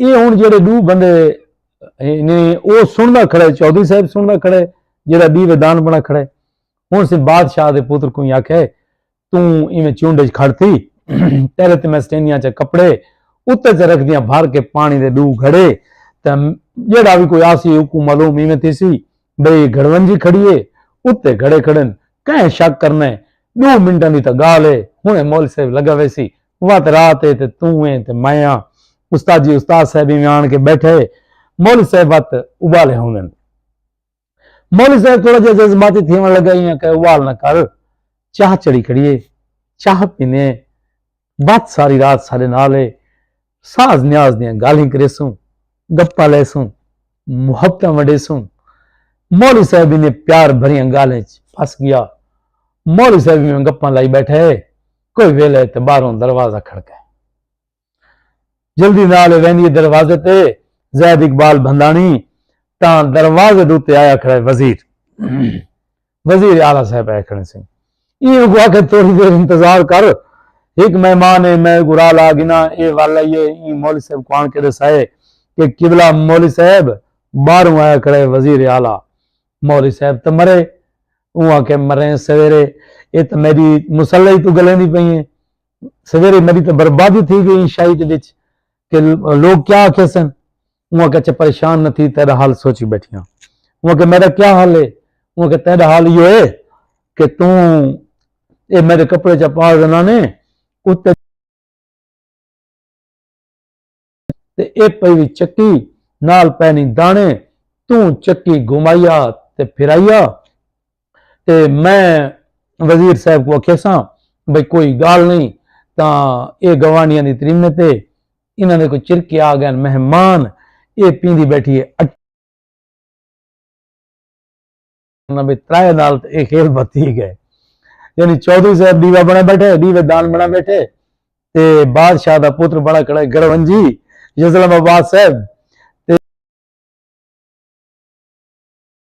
اے ہن جیڑھے ڈو بندے نے او سنڑدا کھڑے چوہدری صاحب سنڑدا کھڑے جیڑھا بی ودان بنڑا کھڑے ہن سے بادشاہ دے پتر کوں آکھے توں ایویں چونڈ اچ کھڑ تھی تیرے تے میں سٹینیاں چا کپڑے اتے چا رکھ دیاں بھر کے پانی دے ڈو گھڑے تے جیڑھا بھی کوئی آسی حکم معلوم ایویں تھی سی بھئی گھڑونجی کھڑی اے اتے گھڑے کھڑن کہیں شک کرنا اے ڈو منٹاں دی تاں گالھ اے ہنڑے مول صاحب لگا ویسی وت رات اے تے توں ایں تے میں آں استاد جی استاد صاحب ایویں آن کے بیٹھا اے مول صاحب وت ابالے ہوندن مول صاحب تھوڑا جیہا جذباتی تھیون لگا ایاں کہہ ابال نہ کر چاہ چڑھی کھڑی اے چاہ پینے اے بھت ساری رات ساڈے نال ہے۔ ساز نیاز دیاں گالھیں کریسوں، گپاں لیسوں، محبتاں ونڈیسوں۔ مولوی صاحب انہیں پیار بھریاں گالھیں اچ پھس گیا۔ مولوی صاحب ایویں گپاں لائی بیٹھا ہے۔ کوئی ویلا ہے تے باہروں دروازہ کھڑکا ہے۔ جلدی نال ہے ویندی ہے دروازے تے۔ زید اقبال بھنداݨی تاں دروازے دے اتے آیا کھڑا ہے وزیر۔ وزیر اعلی صاحب اے کھڑے سن ایں اگو آکھے تھوڑی دیر انتظار کر ہک مہمان اے میں گرا لا گنا اے ول ائی اے ایں مولوی صاحب کو آن کے دسائے کہ قبلہ مولوی صاحب باہروں آیا کھڑے وزیر اعلی مولوی صاحب تو مرے اوں آکھے مرے سویرے اے تو میری مسلح تو گلے نہیں پئی ہیں سویرے میری تو بربادی تھی گئی شاہی دے وچ کہ لوگ کیا آکھے سن انہاں آکھیا اچھا پریشان نہ تھی تیڈا حال سوچی بیٹھیاں انہاں آکھیا میڈا کیا حال ہے انہاں آکھیا تیڈا حال ایہو ہے کہ توں اے میڈے کپڑے چا پا زنانے اتے تے اے پئی وی چکی نال پینی دانے توں چکی گھمائیا تے پھرائیا تے میں وزیر صاحب کو اکھیساں بھئی کوئی گال نہیں تاں اے گوانڈیاں دی تریمت ہے انہاں دے کوئی چرکے آ گئن مہمان اے پیندی بیٹھی ہے اٹا نبی ترائے نال تے اے خیل بھتی گئے یعنی چودھری صاحب دیوا بنا بیٹھے دیوے دان بنا بیٹھے تے بادشاہ دا پتر بنا کھڑے گرونجی یزلم آباد صاحب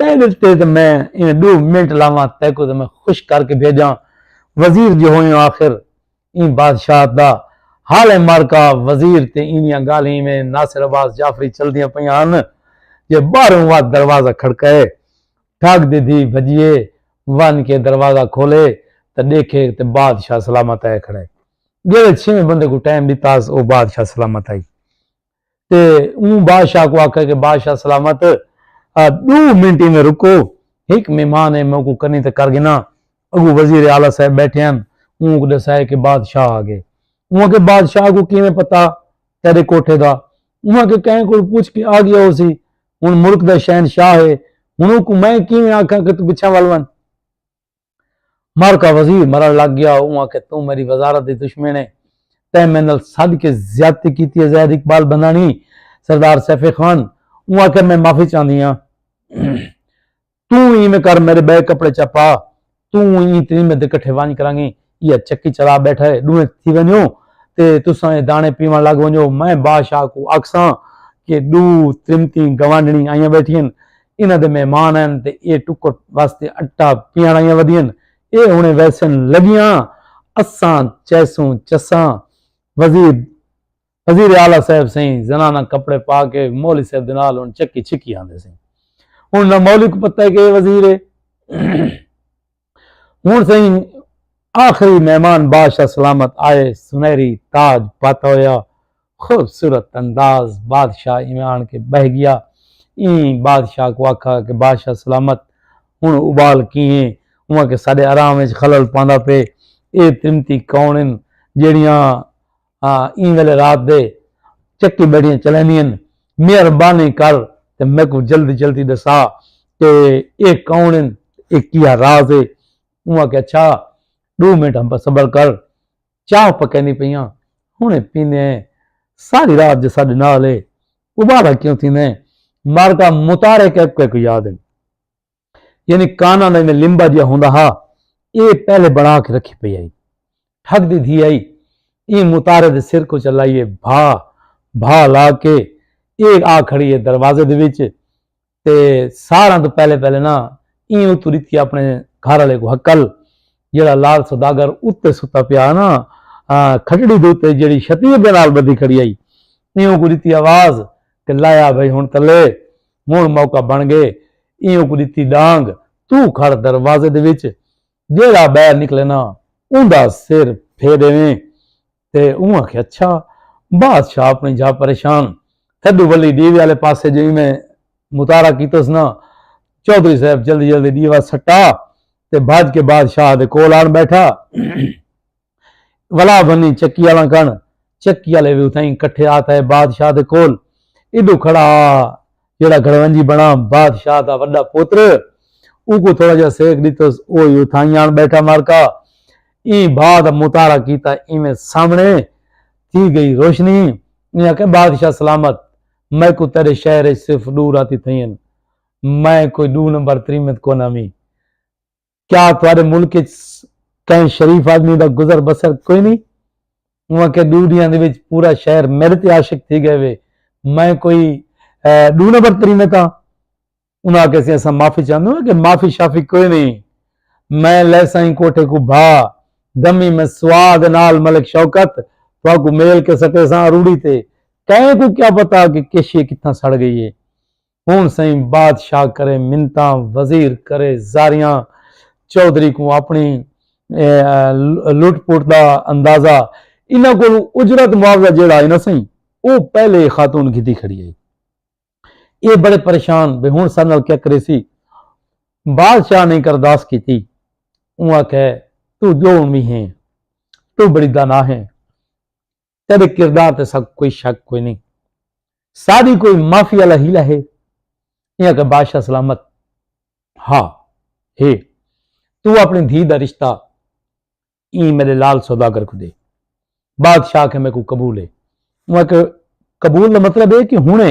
تیݙے تے تاں میں ایویں ݙو منٹ لاواں تیکوں تاں میں خوش کر کے بھیڄاں وزیر جو ہوئیں آخر ایں بادشاہت دا حال اے معرکہ وزیر تے ایندیاں ڳالھیں ایویں ناصر عباس جعفری چلدیاں پئیاں ہن جو ٻاہروں وا دروازہ کھڑکائے ٹھڳ دی دھی بھڄیے ونڄ کے دروازہ کھولے تاں ݙیکھے تے بادشاہ سلامت آئے کھڑا اے ڳیرے چھیویں بندے کوں ٹائم ݙتا ہس او بادشاہ سلامت آئی تے اوں بادشاہ کوں آکھیا کہ بادشاہ سلامت ڈو منٹ ایویں رکو ہک مہمان ہے میں اوکوں کنی تے کر گھناں اگوں وزیر اعلی صاحب بیٹھے ہن اوں اک ڈسائے کہ بادشاہ آ گئے اوں آکھیا بادشاہ کوں کیویں پتہ تیڈے کوٹھے دا اوں آکھیا کہیں کول پوچھ کے آ گیا ہوسی ہن ملک دا شہنشاہ ہے ہن اوکوں میں کیویں آکھاں کہ تو پچھاں ول ونج۔ معرکہ وزیر مرݨ لگ ڳیا۔ اوں آکھیا توں میݙی وزارت دی دشمن ایں، تیں میں نال سݙ کے زیادتی کیتی اے زاہد اقبال بنداݨی، سردار سیف خان اوں آکھیا میں معافی چاہندی آں۔ توں اینویں کر میݙے ٻئے کپڑے چا پا، توں ایں تریمے دے کٹھے ونڄ کرانگی ایہا چکی چلا ٻیٹھا اے، ݙوہیں تھی ونڄو تے تساں اے داݨے پیوݨ لڳ ونڄو، میں بادشاہ کوں آکھساں کہ ݙو تریمتیں گوانڈݨی آئیاں ٻیٹھین، انہاں دے مہمان ہن تے ایہ ٹکر واسطے اٹا پیاݨائیاں ودھین۔ ایہ ہݨے ویسن لڳیاں اساں چیسوں چساں۔ وزیر وزیر اعلی صاحب سئیں زناناں کپڑے پا کے مولوی صاحب دے نال ہݨ چکی چھکی آندے سئیں۔ ہݨ نہ مولوی کوں پتہ ہے کہ ایہ وزیر ہے۔ ہن سئیں آخری مہمان بادشاہ سلامت آئے سنہری تاج پت ہویا خوبصورت انداز بادشاہ ایویں آن کے بہہ گیا ایں بادشاہ کو آکھا کہ بادشاہ سلامت ہن ابال کیئیں اواں کہ ساڈے آرام وچ خلل پاندا پئے اے ترمتی کون ہن جیڑھیاں ہاں ایں ویلے رات دے چکی بیڑیاں چلیندین مہربانی کر تے میکوں جلدی جلدی ڈسا کہ ایہ کون ہن ایہ کیا راز ہے اوں آکھیا اچھا ڈو منٹ ہم پر صبر کر چاہ پکیندی پیاں ہنے پیندے ہیں ساری رات جے ساڈے نال ہے ابالا کیوں تھیندے ہیں مارکا متارے کیکوے کو یاد ہیں۔ یعنی کانا دا ایویں لمبا جیا ہوندا ہا اے پہلے بنا کے رکھی پئی آئی ٹھگ دی دھی آئی اے متارے دے سر کو چلائیے بھا بھا لا کے اے آ کھڑی ہے دروازے دے وچ تے ساراں تو پہلے پہلے نا ایں اتو ریتی اپنے گھر والے کو حکل جڑا لال سوداگر اتے ستا پیا نا کھٹڑی دے اتے جڑی شتیر دے نال بدھی کھڑی آئی ایں کو ریتی آواز کہ لایا بھائی ہن تلے ہنڑ موقع بنڑ گئے ایہوں کوں ڈتی ڈانگ توں کھڑ دروازے دے وچ جیہڑا بہر نکلے نا اوندا سر پھے ڈیویں تے اوں آکھے اچھا بادشاہ اپنی جھا پریشان تھڈو ولی ڈیوے والے پاسے جو ایویں متارا کیتس نا چوہدری صاحب جلدی جلدی ڈیوا سٹا تے بھج کے بادشاہ دے کول آن بیٹھا ولا بھنی چکی آلاں کن چکی آلے وی اتھائیں کٹھے آ تھئے بادشاہ دے کول ایڈو کھڑا آ جیڑھا گھڑونجی بنا بادشاہ دا وڈا پوتر اوکوں تھوڑا جا سیک ڈتس او ہی اتھائیں آن بیٹھا مارکا ایں بھا دا مطالعہ کیتا ایویں سامنے تھی گئی روشنی ایں آکھیا بادشاہ سلامت میکوں تیڈے شہر اچ صرف ڈو راتی تھئین میں کوئی ڈو نمبر تریمت کوناں وی کیا تہاڈے ملک اچ کہیں شریف آدمی دا گزر بسر کوئی نی؟ اوہاں کے ڈو ڈیہاں دے وچ پورا شہر میڈے تے عاشق تھی گئے وے میں کوئی ڈو نمبر تری میں تاں انہاں آکھیا سی اساں معافی چاہندے ہاں کہ معافی شافی کوئی نی میں لیساں ایں کوٹھے کوں بھا دمی میں سواد نال ملک شوکت تہاں کوں میل کے سٹیساں اروڑی تے کہیں کوں کیا پتہ کہ کشی کتھاں سڑ گئی اے۔ ہن سئیں بادشاہ کرے منتاں وزیر کرے زاریاں چوہدری کوں اپنڑی لٹ پٹ دا اندازہ انہاں کولوں اجرت معاوضہ جیہڑا ہئی نا سئیں او پہلے اے خاتون گھدی کھڑی ہئی اے بڑے پریشان بھئی ہن ساڈے نال کیا کریسی بادشاہ نے کرداس کیتی اوں آکھے تو جو ہن وی ہیں تو بڑی دانا ہیں تیڈے کردار تے ساکوں کوئی شک کوئی نہیں ساڈی کوئی مافی والا ہیلا ہے یہ کہ بادشاہ سلامت ہا ہے تو اپنی دھی دا رشتہ ای میرے لال سوداگر کو دے بادشاہ کے میں کو قبول ہے وہ کہ قبول دا مطلب ہے کہ ہنے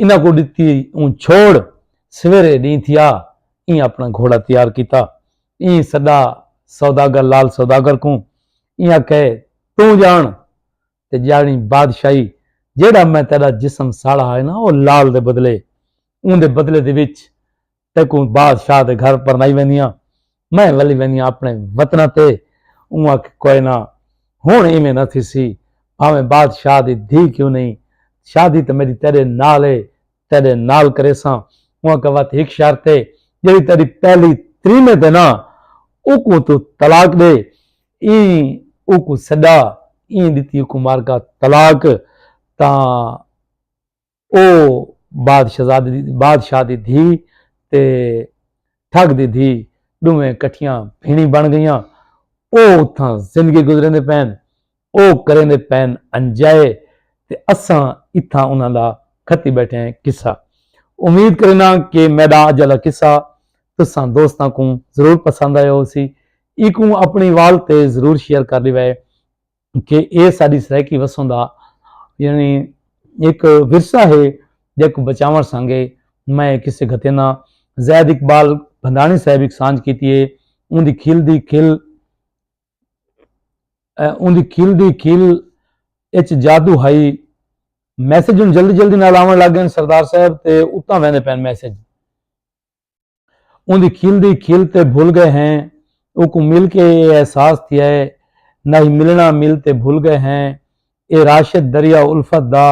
انہاں کوں ݙتی اوں چھوڑ سویرے ݙینہہ تھیا ایں اپݨا گھوڑا تیار کیتا ایں سݙا سوداگر لال سوداگر کوں ایں آکھئے توں ڄاݨ تے ڄاݨی بادشاہی جیڑھا میں تیݙا جسم ساڑا ہائے نا او لال دے بدلے اوں دے بدلے دے وچ تیکوں بادشاہ دے گھر پرنائی ویندیاں میں ولی ویندیاں اپنے وطن تے اوں آکھ کوئے نہ ہن ایویں نہ تھیسی بھاویں بادشاہ دی دھی کیوں نہیں شادی تے میڈی تیڈے نال اے تیڈے نال کریساں اوں آکھا وت ہک شرط اے جیڑی تیڈی پہلی تریمے تے نہ اوکوں تو طلاق ڈے ایں اوکوں سڈا ایں ڈتی اوکوں مارکا طلاق تاں او بادشاہ دی دھی تے ٹھگ دی دھی ݙوہیں کٹھیاں بھیݨیں بݨ ڳئیاں۔ او اتھاں زندگی گزریندے پئن۔ او کریندے پئن انجائے تے اساں اتھاں انہاں دا کھتی ٻیٹھے ہیں قصہ۔ امید کرینداں کہ میݙا اڄ آلا قصہ تساں دوستاں کوں ضرور پسند آیا ہوسی۔ ایکوں اپݨی وال تے ضرور شیئر کر ݙیوے۔ کہ اے ساڈی سرائیکی وسوں دا یعنی ایک ورثہ ہے جیکو بچاون سانگے میں کسے گھتینا زید اقبال بھنڈانی صاحب ایک سانج کیتی ہے اون دی کھل دی کھل اون دی کھل دی کھل اچ جادو ہائی میسج ہوں جلدی جلدی نال آون لگ گئے سردار صاحب تے اتنا ویندے پین میسج اوندی کھل دی کھل تے بھل گئے ہیں اوکوں مل کے اے احساس تھیا ہے ناہی ملنڑاں مل تے بھل گئے ہیں اے راشد دریا الفت دا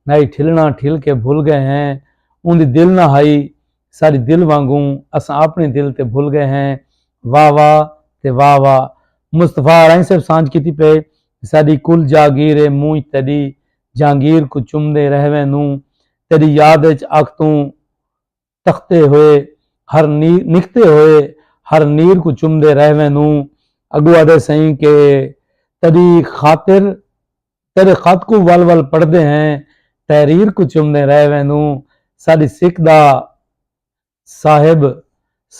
ناہی ٹھلنڑاں ٹھل کے بھل گئے ہیں اوندی دل نہ ہائی ساڈی دل وانگوں اساں اپنڑی دل تے بھل گئے ہیں واہ واہ تے واہ واہ مصطفی ہرائی صاحب سانجھ کیتی پئے ساڈی کل جاگیر اے مونجھ تیڈی جہانگیر کوں چمدے رہویں نوں تیڈی یاد اچ اکھ توں تختے ہوئے ہر نیر نکھتے ہوئے ہر نیر کوں چمدے رہ وینوں اگوں آدھے سئیں کہ تیری خاطر تیرے خط کوں ول ول پڑھدے ہیں تحریر کوں چمدے رہ وینوں ساڈی سکھ دا صاحب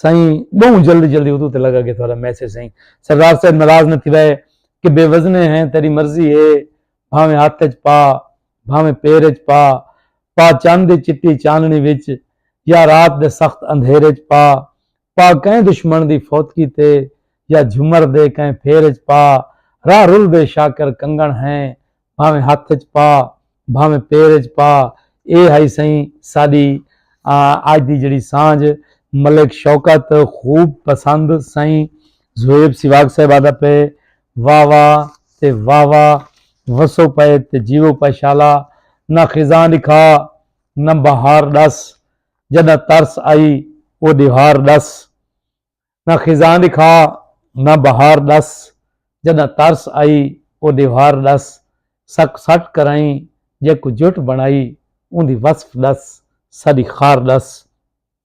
سائیں بہوں جلدی جلدی ادو تے لگا گیا تھوڑا میسج سائیں سردار صاحب ناراض نہ تھی وے کہ بے وزنے ہیں تیری مرضی ہے بھاویں ہاتھ وچ پا بھانویں پیر اچ پا پا چن دی چٹی چانڑی وچ یا رات دے سخت اندھیر اچ پا پا کہیں دشمن دی فوتگی تے یا جھمر دے کہیں پھیر اچ پا راہ رلدے شاکر کنگن ہیں بھانویں ہتھ اچ پا بھانویں پیر اچ پا اے ہئی سئیں ساڈی اج دی جیڑی سانجھ ملک شوکت خوب پسند سئیں زویب سیواگ صاحب آدا پئے واہ واہ تے واہ واہ وسو پئے تے جیوو پئے شالا نہ خزاں ݙکھا نہ بہار ݙس جݙاں ترس آئی او ݙیوار ݙس نہ خزاں ݙکھا نہ بہار ݙس جݙاں ترس آئی او ݙیوار ݙس ساکوں سٹ کرائیں جیکوں جٹ بݨائی اوندی وصف ݙس ساݙی خار ݙس۔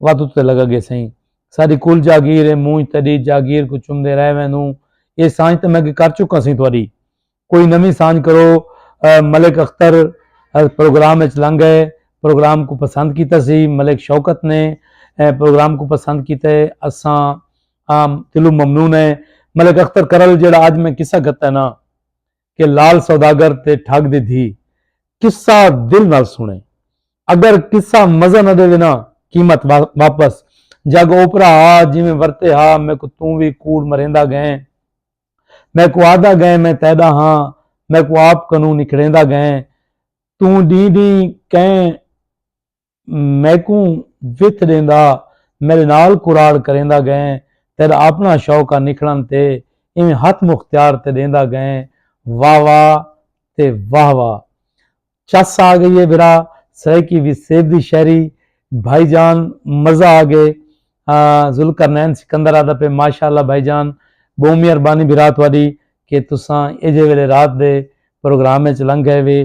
وات اتے لگا گے سائیں ساری کل جاگیر ہے مونج تیری جاگیر کو چمدے رہ ویندوں یہ سانج تے میں کر چکا سائیں تہاڈی کوئی نویں سانج کرو ملک اختر پروگرام وچ لنگ گئے پروگرام کو پسند کیتا سی ملک شوکت نے پروگرام کو پسند کیتا ہے اساں عام دلو ممنون ہے ملک اختر کرل جڑا اج میں قصہ گھتا ہے نا کہ لال سوداگر تے ٹھگ دی دھی قصہ دل نال سنے اگر قصہ مزہ نہ ڈیوے نا قیمت واپس جگ اوپرا ہا جیویں ورتے ہا میکوں توں وی کوڑ مریندا گئیں میکوں آہدا گئیں میں تیڈا ہاں میکوں آپ کنوں نکھڑیندا گئیں توں ڈینہہ ڈینہہ کئیں میکوں وتھ ݙیندا میݙے نال کراڑ کریندا ڳئیں تیݙا آپݨا شوق آ نکھڑݨ تے ایویں ہتھ مختیار تے ݙیندا ڳئیں واہ واہ تے واہ واہ چس آ ڳئی اے بھرا سرائیکی وی سیب دی شاعری بھائی جان مزہ آ ڳئے ذوالقرنین سکندر آہدا پئے ماشاءاللہ بھائی جان ٻہوں مہربانی بھرا تہاݙی کہ تساں ایجھے ویلے رات دے پروگرام اچ لنگھ ڳئے وے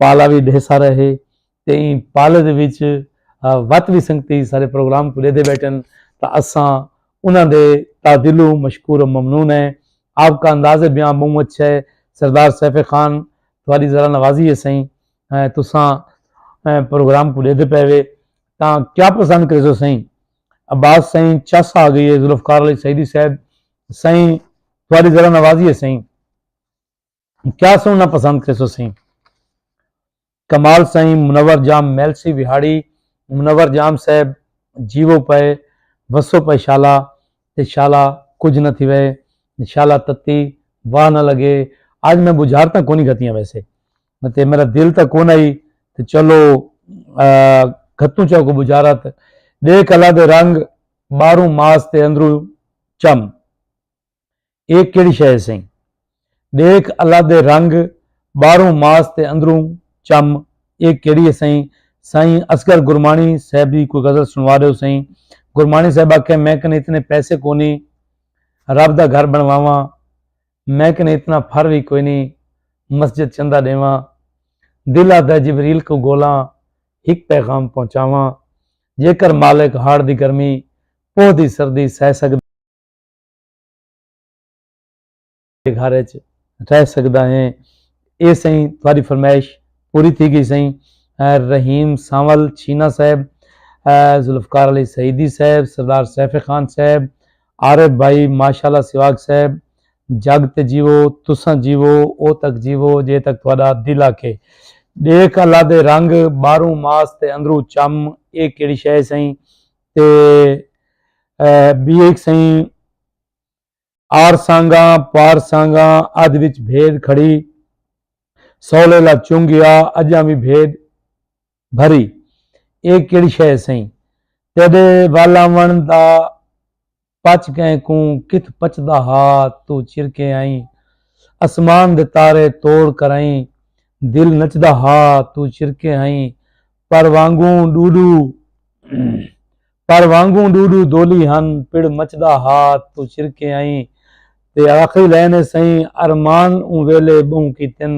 پالا وی ݙیسا رہے تے ایں پالے دے وچ وت وی سنگتی سارے پروگرام کو لیدے بیٹھن تا اساں انہاں دے تعدلو مشکور و ممنون ہیں آپ کا انداز بیاں بہوں اچھا ہے سردار سیف خان تھوڑی ذرا نوازی ہے سائیں تساں پروگرام کو لیدے پے وے تا کیا پسند کرے سو سائیں عباس سائیں چس آ گئی ہے ذوالفقار علی سعیدی صاحب سائیں تھوڑی ذرا نوازی ہے سائیں کیا سننا پسند کے سوسیں کمال سائیں منور جام میلسی وہاڑی منور جام صاحب جیو پائے وسو پائے شالا تے شالا کچھ نہ تھی وے شالا تتی واہ نہ لگے آج میں بجھار تک کونی گھتیاں ویسے تے میرا دل تک کون آئی تے چلو گھتوں چاہ کو بجھارت دے کلا دے رنگ باروں ماس تے اندروں چم اے کیڑھی شے ہے سئیں؟ ڈیکھ الادے رنگ باہروں ماس تے اندروں چم اے کیڑھی ہے سئیں؟ سائیں اصغر گرمانی صاحب دی کوئی غزل سنوا ڈیو سئیں گرمانی صاحب آکھیا میں کنے اتنے پیسے کونی رب دا گھر بنواواں میں کنے اتنا پھر وی کوئی نہیں مسجد چندہ ڈیواں دل آدھا جبریل کو گولاں ہک پیغام پہنچاواں جے کر مالک ہاڑ دی گرمی پوہ دی سردی سہ سکدے گھر اچ رہ سگدا ہیں اے سئیں تہاڈی فرمائش پوری تھی گئی سئیں رحیم سانول چھینا صاحب ذوالفقار علی سعیدی صاحب سردار سیف خان صاحب عارف بھائی ماشاءاللہ سواگ صاحب جگ تے جیو تساں جیو او تک جیو جے تک تہاڈا دل آکھے دیکھ اللہ دے رنگ باہروں ماس تے اندروں چم اے کیڑی شے سئیں تے بی ایک سئیں آر سانگاں پار سانگاں ادھ وچ بھیڈ کھڑی سولے لا چنگیا اجاں وی بھیڈ بھری اے کیڑی شے سئیں تیڈے ول آون دا پچ گئیں کوں کتھ پچدا ہا توں چرکے آئیں اسمان دے تارے توڑ کرائیں دل نچدا ہا توں چرکے آئیں پر وانگوں ڈوڈو پر وانگوں ڈوڈو دولی ہن پڑ مچدا ہا توں چرکے آئیں تے آخری لائن ہے سئیں ارمان اوں ویلے بہوں کیتن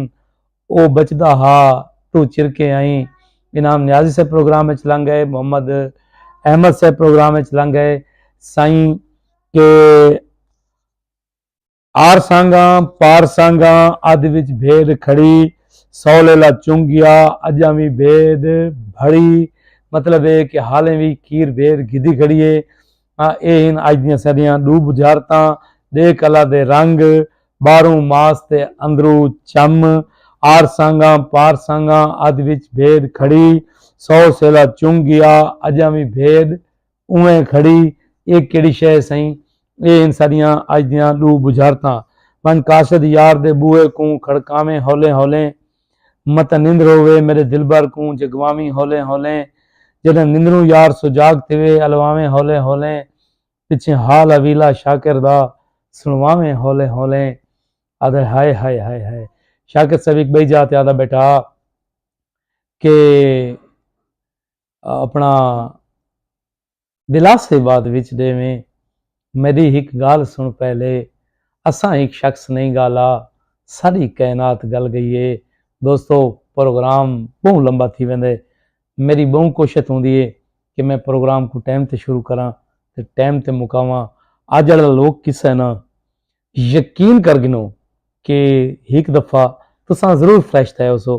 او بچدا ہا توں چرکے آئیں انعام نیازی صاحب پروگرام اچ لنگ گئے محمد احمد صاحب پروگرام اچ لنگ گئے سائیں کہ آر سانگاں پار سانگاں ادھ وچ بھیڈ کھڑی سو لیلا چنگ گیا اجاں وی بھیڈ بھڑی مطلب اے کہ حالیں وی کھیر بھیڈ گھدی کھڑی اے ہاں ایہ ہن اج دیاں ساڈیاں ڈو بجھارتاں ڈے کلا دے رنگ باہروں ماس تے اندروں چم آر سانگاں پار سانگاں ادھ وچ بھیڈ کھڑی سو سیلا چنگ گیا اجاں وی بھیڈ اونویں کھڑی ایہ کیڑی شے ہے سئیں ایہ ہن ساڈیاں اج دیاں ڈو بجھارتاں ونج قاصد یار دے بوہے کوں کھڑکاویں ہولیں ہولیں متاں نندر ہووے میݙے دلبر کوں جگواویں ہولیں ہولیں جݙاں نندروں یار سجاڳ تھیوے الواویں ہولیں ہولیں پچھیں حال اویلا شاکر دا سݨواویں ہولیں ہولیں آہدے ہائے ہائے ہائے ہائے شاکر صاحب ہک ٻئی جاہ تے آہدا بیٹا کہ اپنا دلاسے بعد وچ ڈیویں میڈی ہک گال سن پہلے اساں ہک شخص نہیں گالا ساڈی کائنات گل گئی ہے دوستو پروگرام بہوں لمبا تھی ویندے میری بہوں کوشت ہوندی ہے کہ میں پروگرام کو ٹائم تے شروع کراں تے ٹائم تے مکاواں اج والا لوگ کسے نا یقین کر گنو کہ ہک دفعہ تساں ضرور فریش تھے ہو سو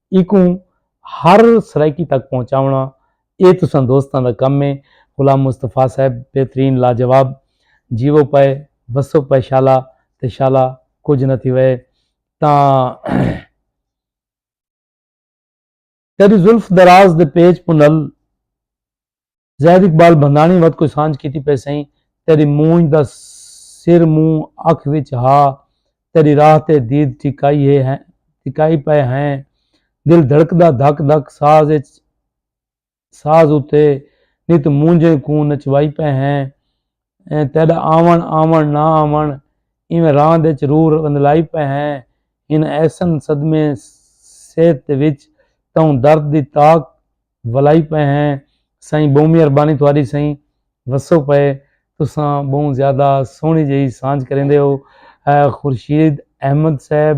ایکوں ہر سرائیکی تک پہنچاونا اے تساں دوستاں دا کم اے غلام مصطفی صاحب بہترین لاجواب جیوو پئے وسو پئے شالا تے شالا کجھ نہ تھیوئے تاں تیڈی زلف دراز دے پیچ پنل زید اقبال بھنداݨی وت کوئی سانجھ کیتی پئے سئیں تیݙی مونجھ دا سر موں اکھ وچ ہا تیݙی راہ تے دید ٹھکائی ہے ہیں ٹھکائی پئے ہیں دل دھڑکدا دھک دھک ساز اچ ساز اتے نت مونجھیں کوں نچوائی پئے ہیں تیڈا آون آون نہ آون ایویں راند اچ روح رندلائی پئے ہیں ہن ایسن صدمے صحت دے وچ تہوں درد دی تاک ولائی پئے ہیں سائیں بہوں مہربانی تہاڈی سائیں وسو پئے تساں بہوں زیادہ سوہنی جئی سانجھ کریندے ہو خورشید احمد صاحب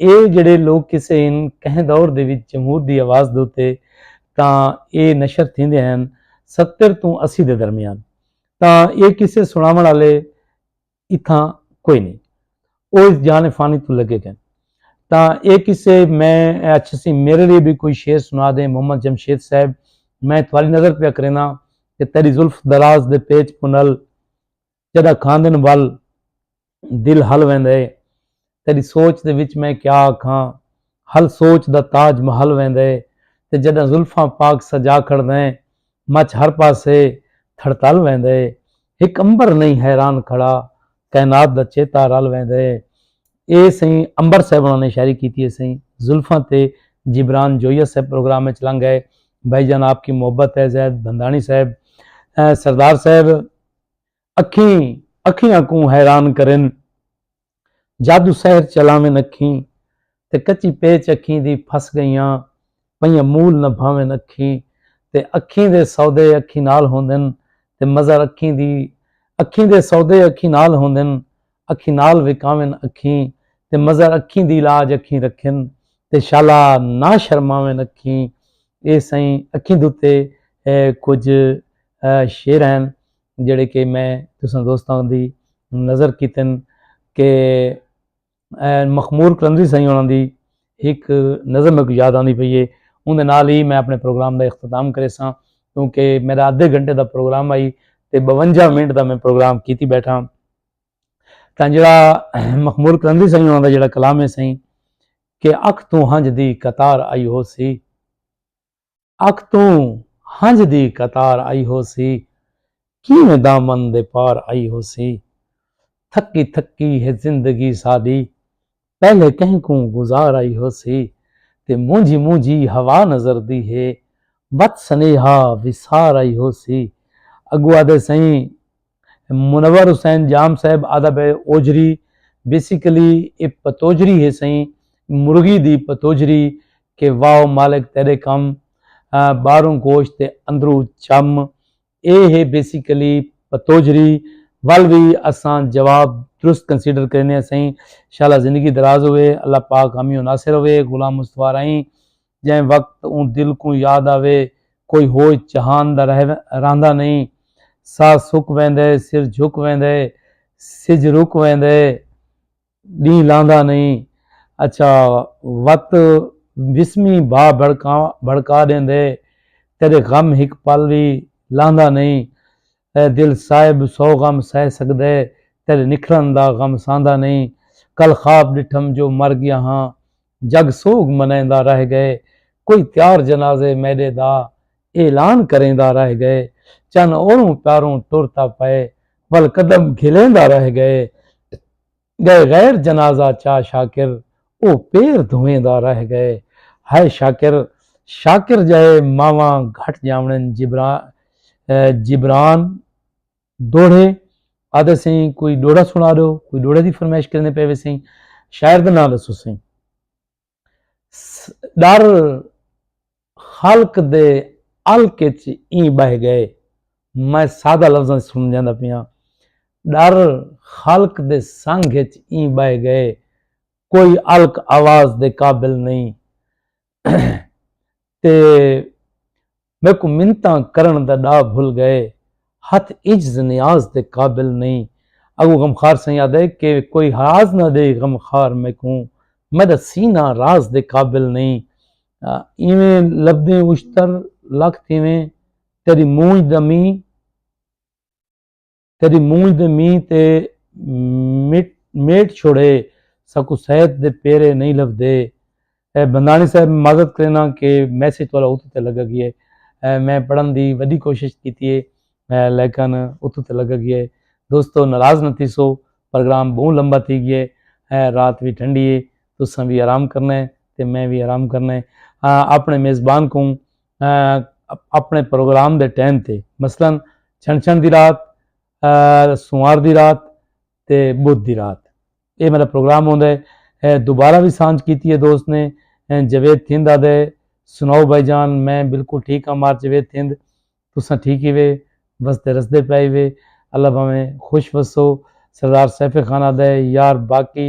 اے جیڑھے لوک کسے ہن کہیں دور دے وچ جمہور دی آواز دے اتے تاں اے نشر تھیندے ہن ستر توں اسی دے درمیان تاں اے کسے سنڑاونڑ آلے اتھاں کوئی نئیں او اس جان فانی توں لگے گئن تاں اے کسے میں اچھسی میرے لیے بھی کوئی شعر سنا دیں محمد جمشید صاحب میں تھوڑی نظر پیا کرینا کہ تیری زلف دراز دے پیچ پنل جݙاں کھاندن ول دل ہل ویندے تیݙی سوچ دے وچ میں کیا آکھاں ہل سوچ دا تاج محل ویندے تے جݙاں زلفاں پاک سجا کھڑدیں مچھ ہر پاسے تھڑتل ویندے ہک عنبر نئیں حیران کھڑا کائنات دا چیتا رل ویندے اے سئیں عنبر صاحب ہونا نے شاعری کیتی ہے سئیں زلفاں تے جبران جویہ صاحب پروگرام وچ لنگ گئے بھائی جان آپ کی محبت ہے زید بھندانی صاحب سردار صاحب اکھیں اکھیاں کوں حیران کرن۔ جادو سحر چلاون اکھیں تے کچی پیچ اکھیں دی پھس گئیاں پئیاں مول نہ بھاون اکھیں تے اکھیں دے سودے اکھیں نال ہوندن تے مظہر اکھیں دی اکھیں دے سودے اکھیں نال ہوندن اکھیں نال وکاون اکھیں تے مظہر اکھیں دی لاج اکھیں رکھن تے شالا نہ شرماون اکھیں اے سائیں اکھیں دتے کچھ شعر ہیں جڑے کہ میں تساں دوستاں دی نظر کیتن کہ مخمور کلندری سائیں انہاں دی ایک نظر میں کو یاد آندی پئی ہے اون دے نال ہی میں اپنے پروگرام دا اختتام کرے ساں کیونکہ میرا آدھے گھنٹے دا پروگرام آئی تے 52 منٹ دا میں پروگرام کیتی بیٹھا تاں جڑا مخمور کرندی سائیں انہاں دا جڑا کلام ہے سائیں کہ اکھ توں ہنج دی قطار آئی ہو سی اکھ توں ہنج دی قطار آئی ہو سی کیویں دامن دے پار آئی ہو سی تھکی تھکی ہے زندگی ساڈی پہلے کہیں کوں گزار آئی ہوسی تے مونجھی مونجھی ہوا نظر دی ہے بت سنیہا وسار آئی ہوسی اگو آدھے سئیں منور حسین جام صاحب آدھا بے اوجری بیسیکلی اے پتوجری ہے سئیں مرغی دی پتوجری کہ واو مالک تیرے کم باہروں گوشت تے اندروں چم اے ہے بیسیکلی پتوجھری ول وی اساں جواب درست کنسیڈر کرینے اسیں انشاءاللہ زندگی دراز ہوے اللہ پاک حامی و ناصر ہوے غلام مصطفی راہیں جیں وقت اوں دل کوں یاد آوے کوئی ہوش جہان دا رہ رہندا نہیں ساہ سک ویندے سر جھک ویندے سجھ رک ویندے ݙینہہ لاندا نئیں اچھا وت وسمی بھا بھڑکا ݙیندے تیݙے غم ہک پل وی لاندا نئیں اے دل صاحب سو غم سہہ سڳدے تیݙے نکھرݨ دا غم سہندا نئیں کل خواب ݙٹھم جو مر ڳیا ہاں جگ سوگ منیندا رہ گئے کوئی تیار جنازے میڈے دا اعلان کریندا رہ گئے چن اوروں پیاروں ٹر تاں پئے ول قدم گھلیندا رہ گئے گئے غیر جنازہ چا شاکر او پیر دھویندا رہ گئے ہائے شاکر شاکر جہے ماواں گھٹ جاونن جبران جبران ڈوہڑے آدھے سیں کوئی ڈوہڑا سنا دو کوئی ڈوہڑے دی فرمائش کرنے پے وے سیں شاعر دا نام دسو سیں ڈر خلق دے الک وچ ایں بہ گئے میں سادہ لفظاں وچ سمجھاندا پیاں ڈر خلق دے سنگ وچ ایں بہ گئے کوئی الک آواز دے قابل نہیں تے میکوں منتاں کرݨ دا ݙا بھل ڳئے ہتھ عجز نیاز دے قابل نئیں اڳوں غمخوار سئیں آدھے کہ کوئی راز نہ ݙے غمخوار میکوں میݙا سینہ راز دے قابل نئیں ایویں لبھدیں اشتر لکھ تھیویں تیݙی مونجھ دا مینہ کدی مونجھ دے مینہ تے میٹ چھوڑے ساکو سید دے پیرے نہیں لبھدے بندانی صاحب معذرت کرینا کہ میسج والا اتو تے لگا گیا ہے میں پڑھن دی وڈی کوشش کیتی ہے لیکن اتو تے لگا گیا ہے دوستو ناراض نہ تیسو پروگرام بہت لمبا تھی گیا ہے رات بھی ٹھنڈی ہے تساں بھی آرام کرنا ہے تے میں بھی آرام کرنا ہے اپنے میزبان کو اپݨے پروگرام دے ٹائم تے مثلا چھنچھن دی رات، سنوار دی رات تے بدھ دی رات اے میݙا پروگرام ہوندے۔ دوبارہ وی سانجھ کیتی اے دوست نے جاوید تھند آدھے سناؤ بھائی جان میں بالکل ٹھیک ہاں مار جاوید تھند تساں ٹھیک ہی وے وسدے رسدے پئے وے اللہ بھاویں خوش وسو سردار سیف خان آدھے یار باقی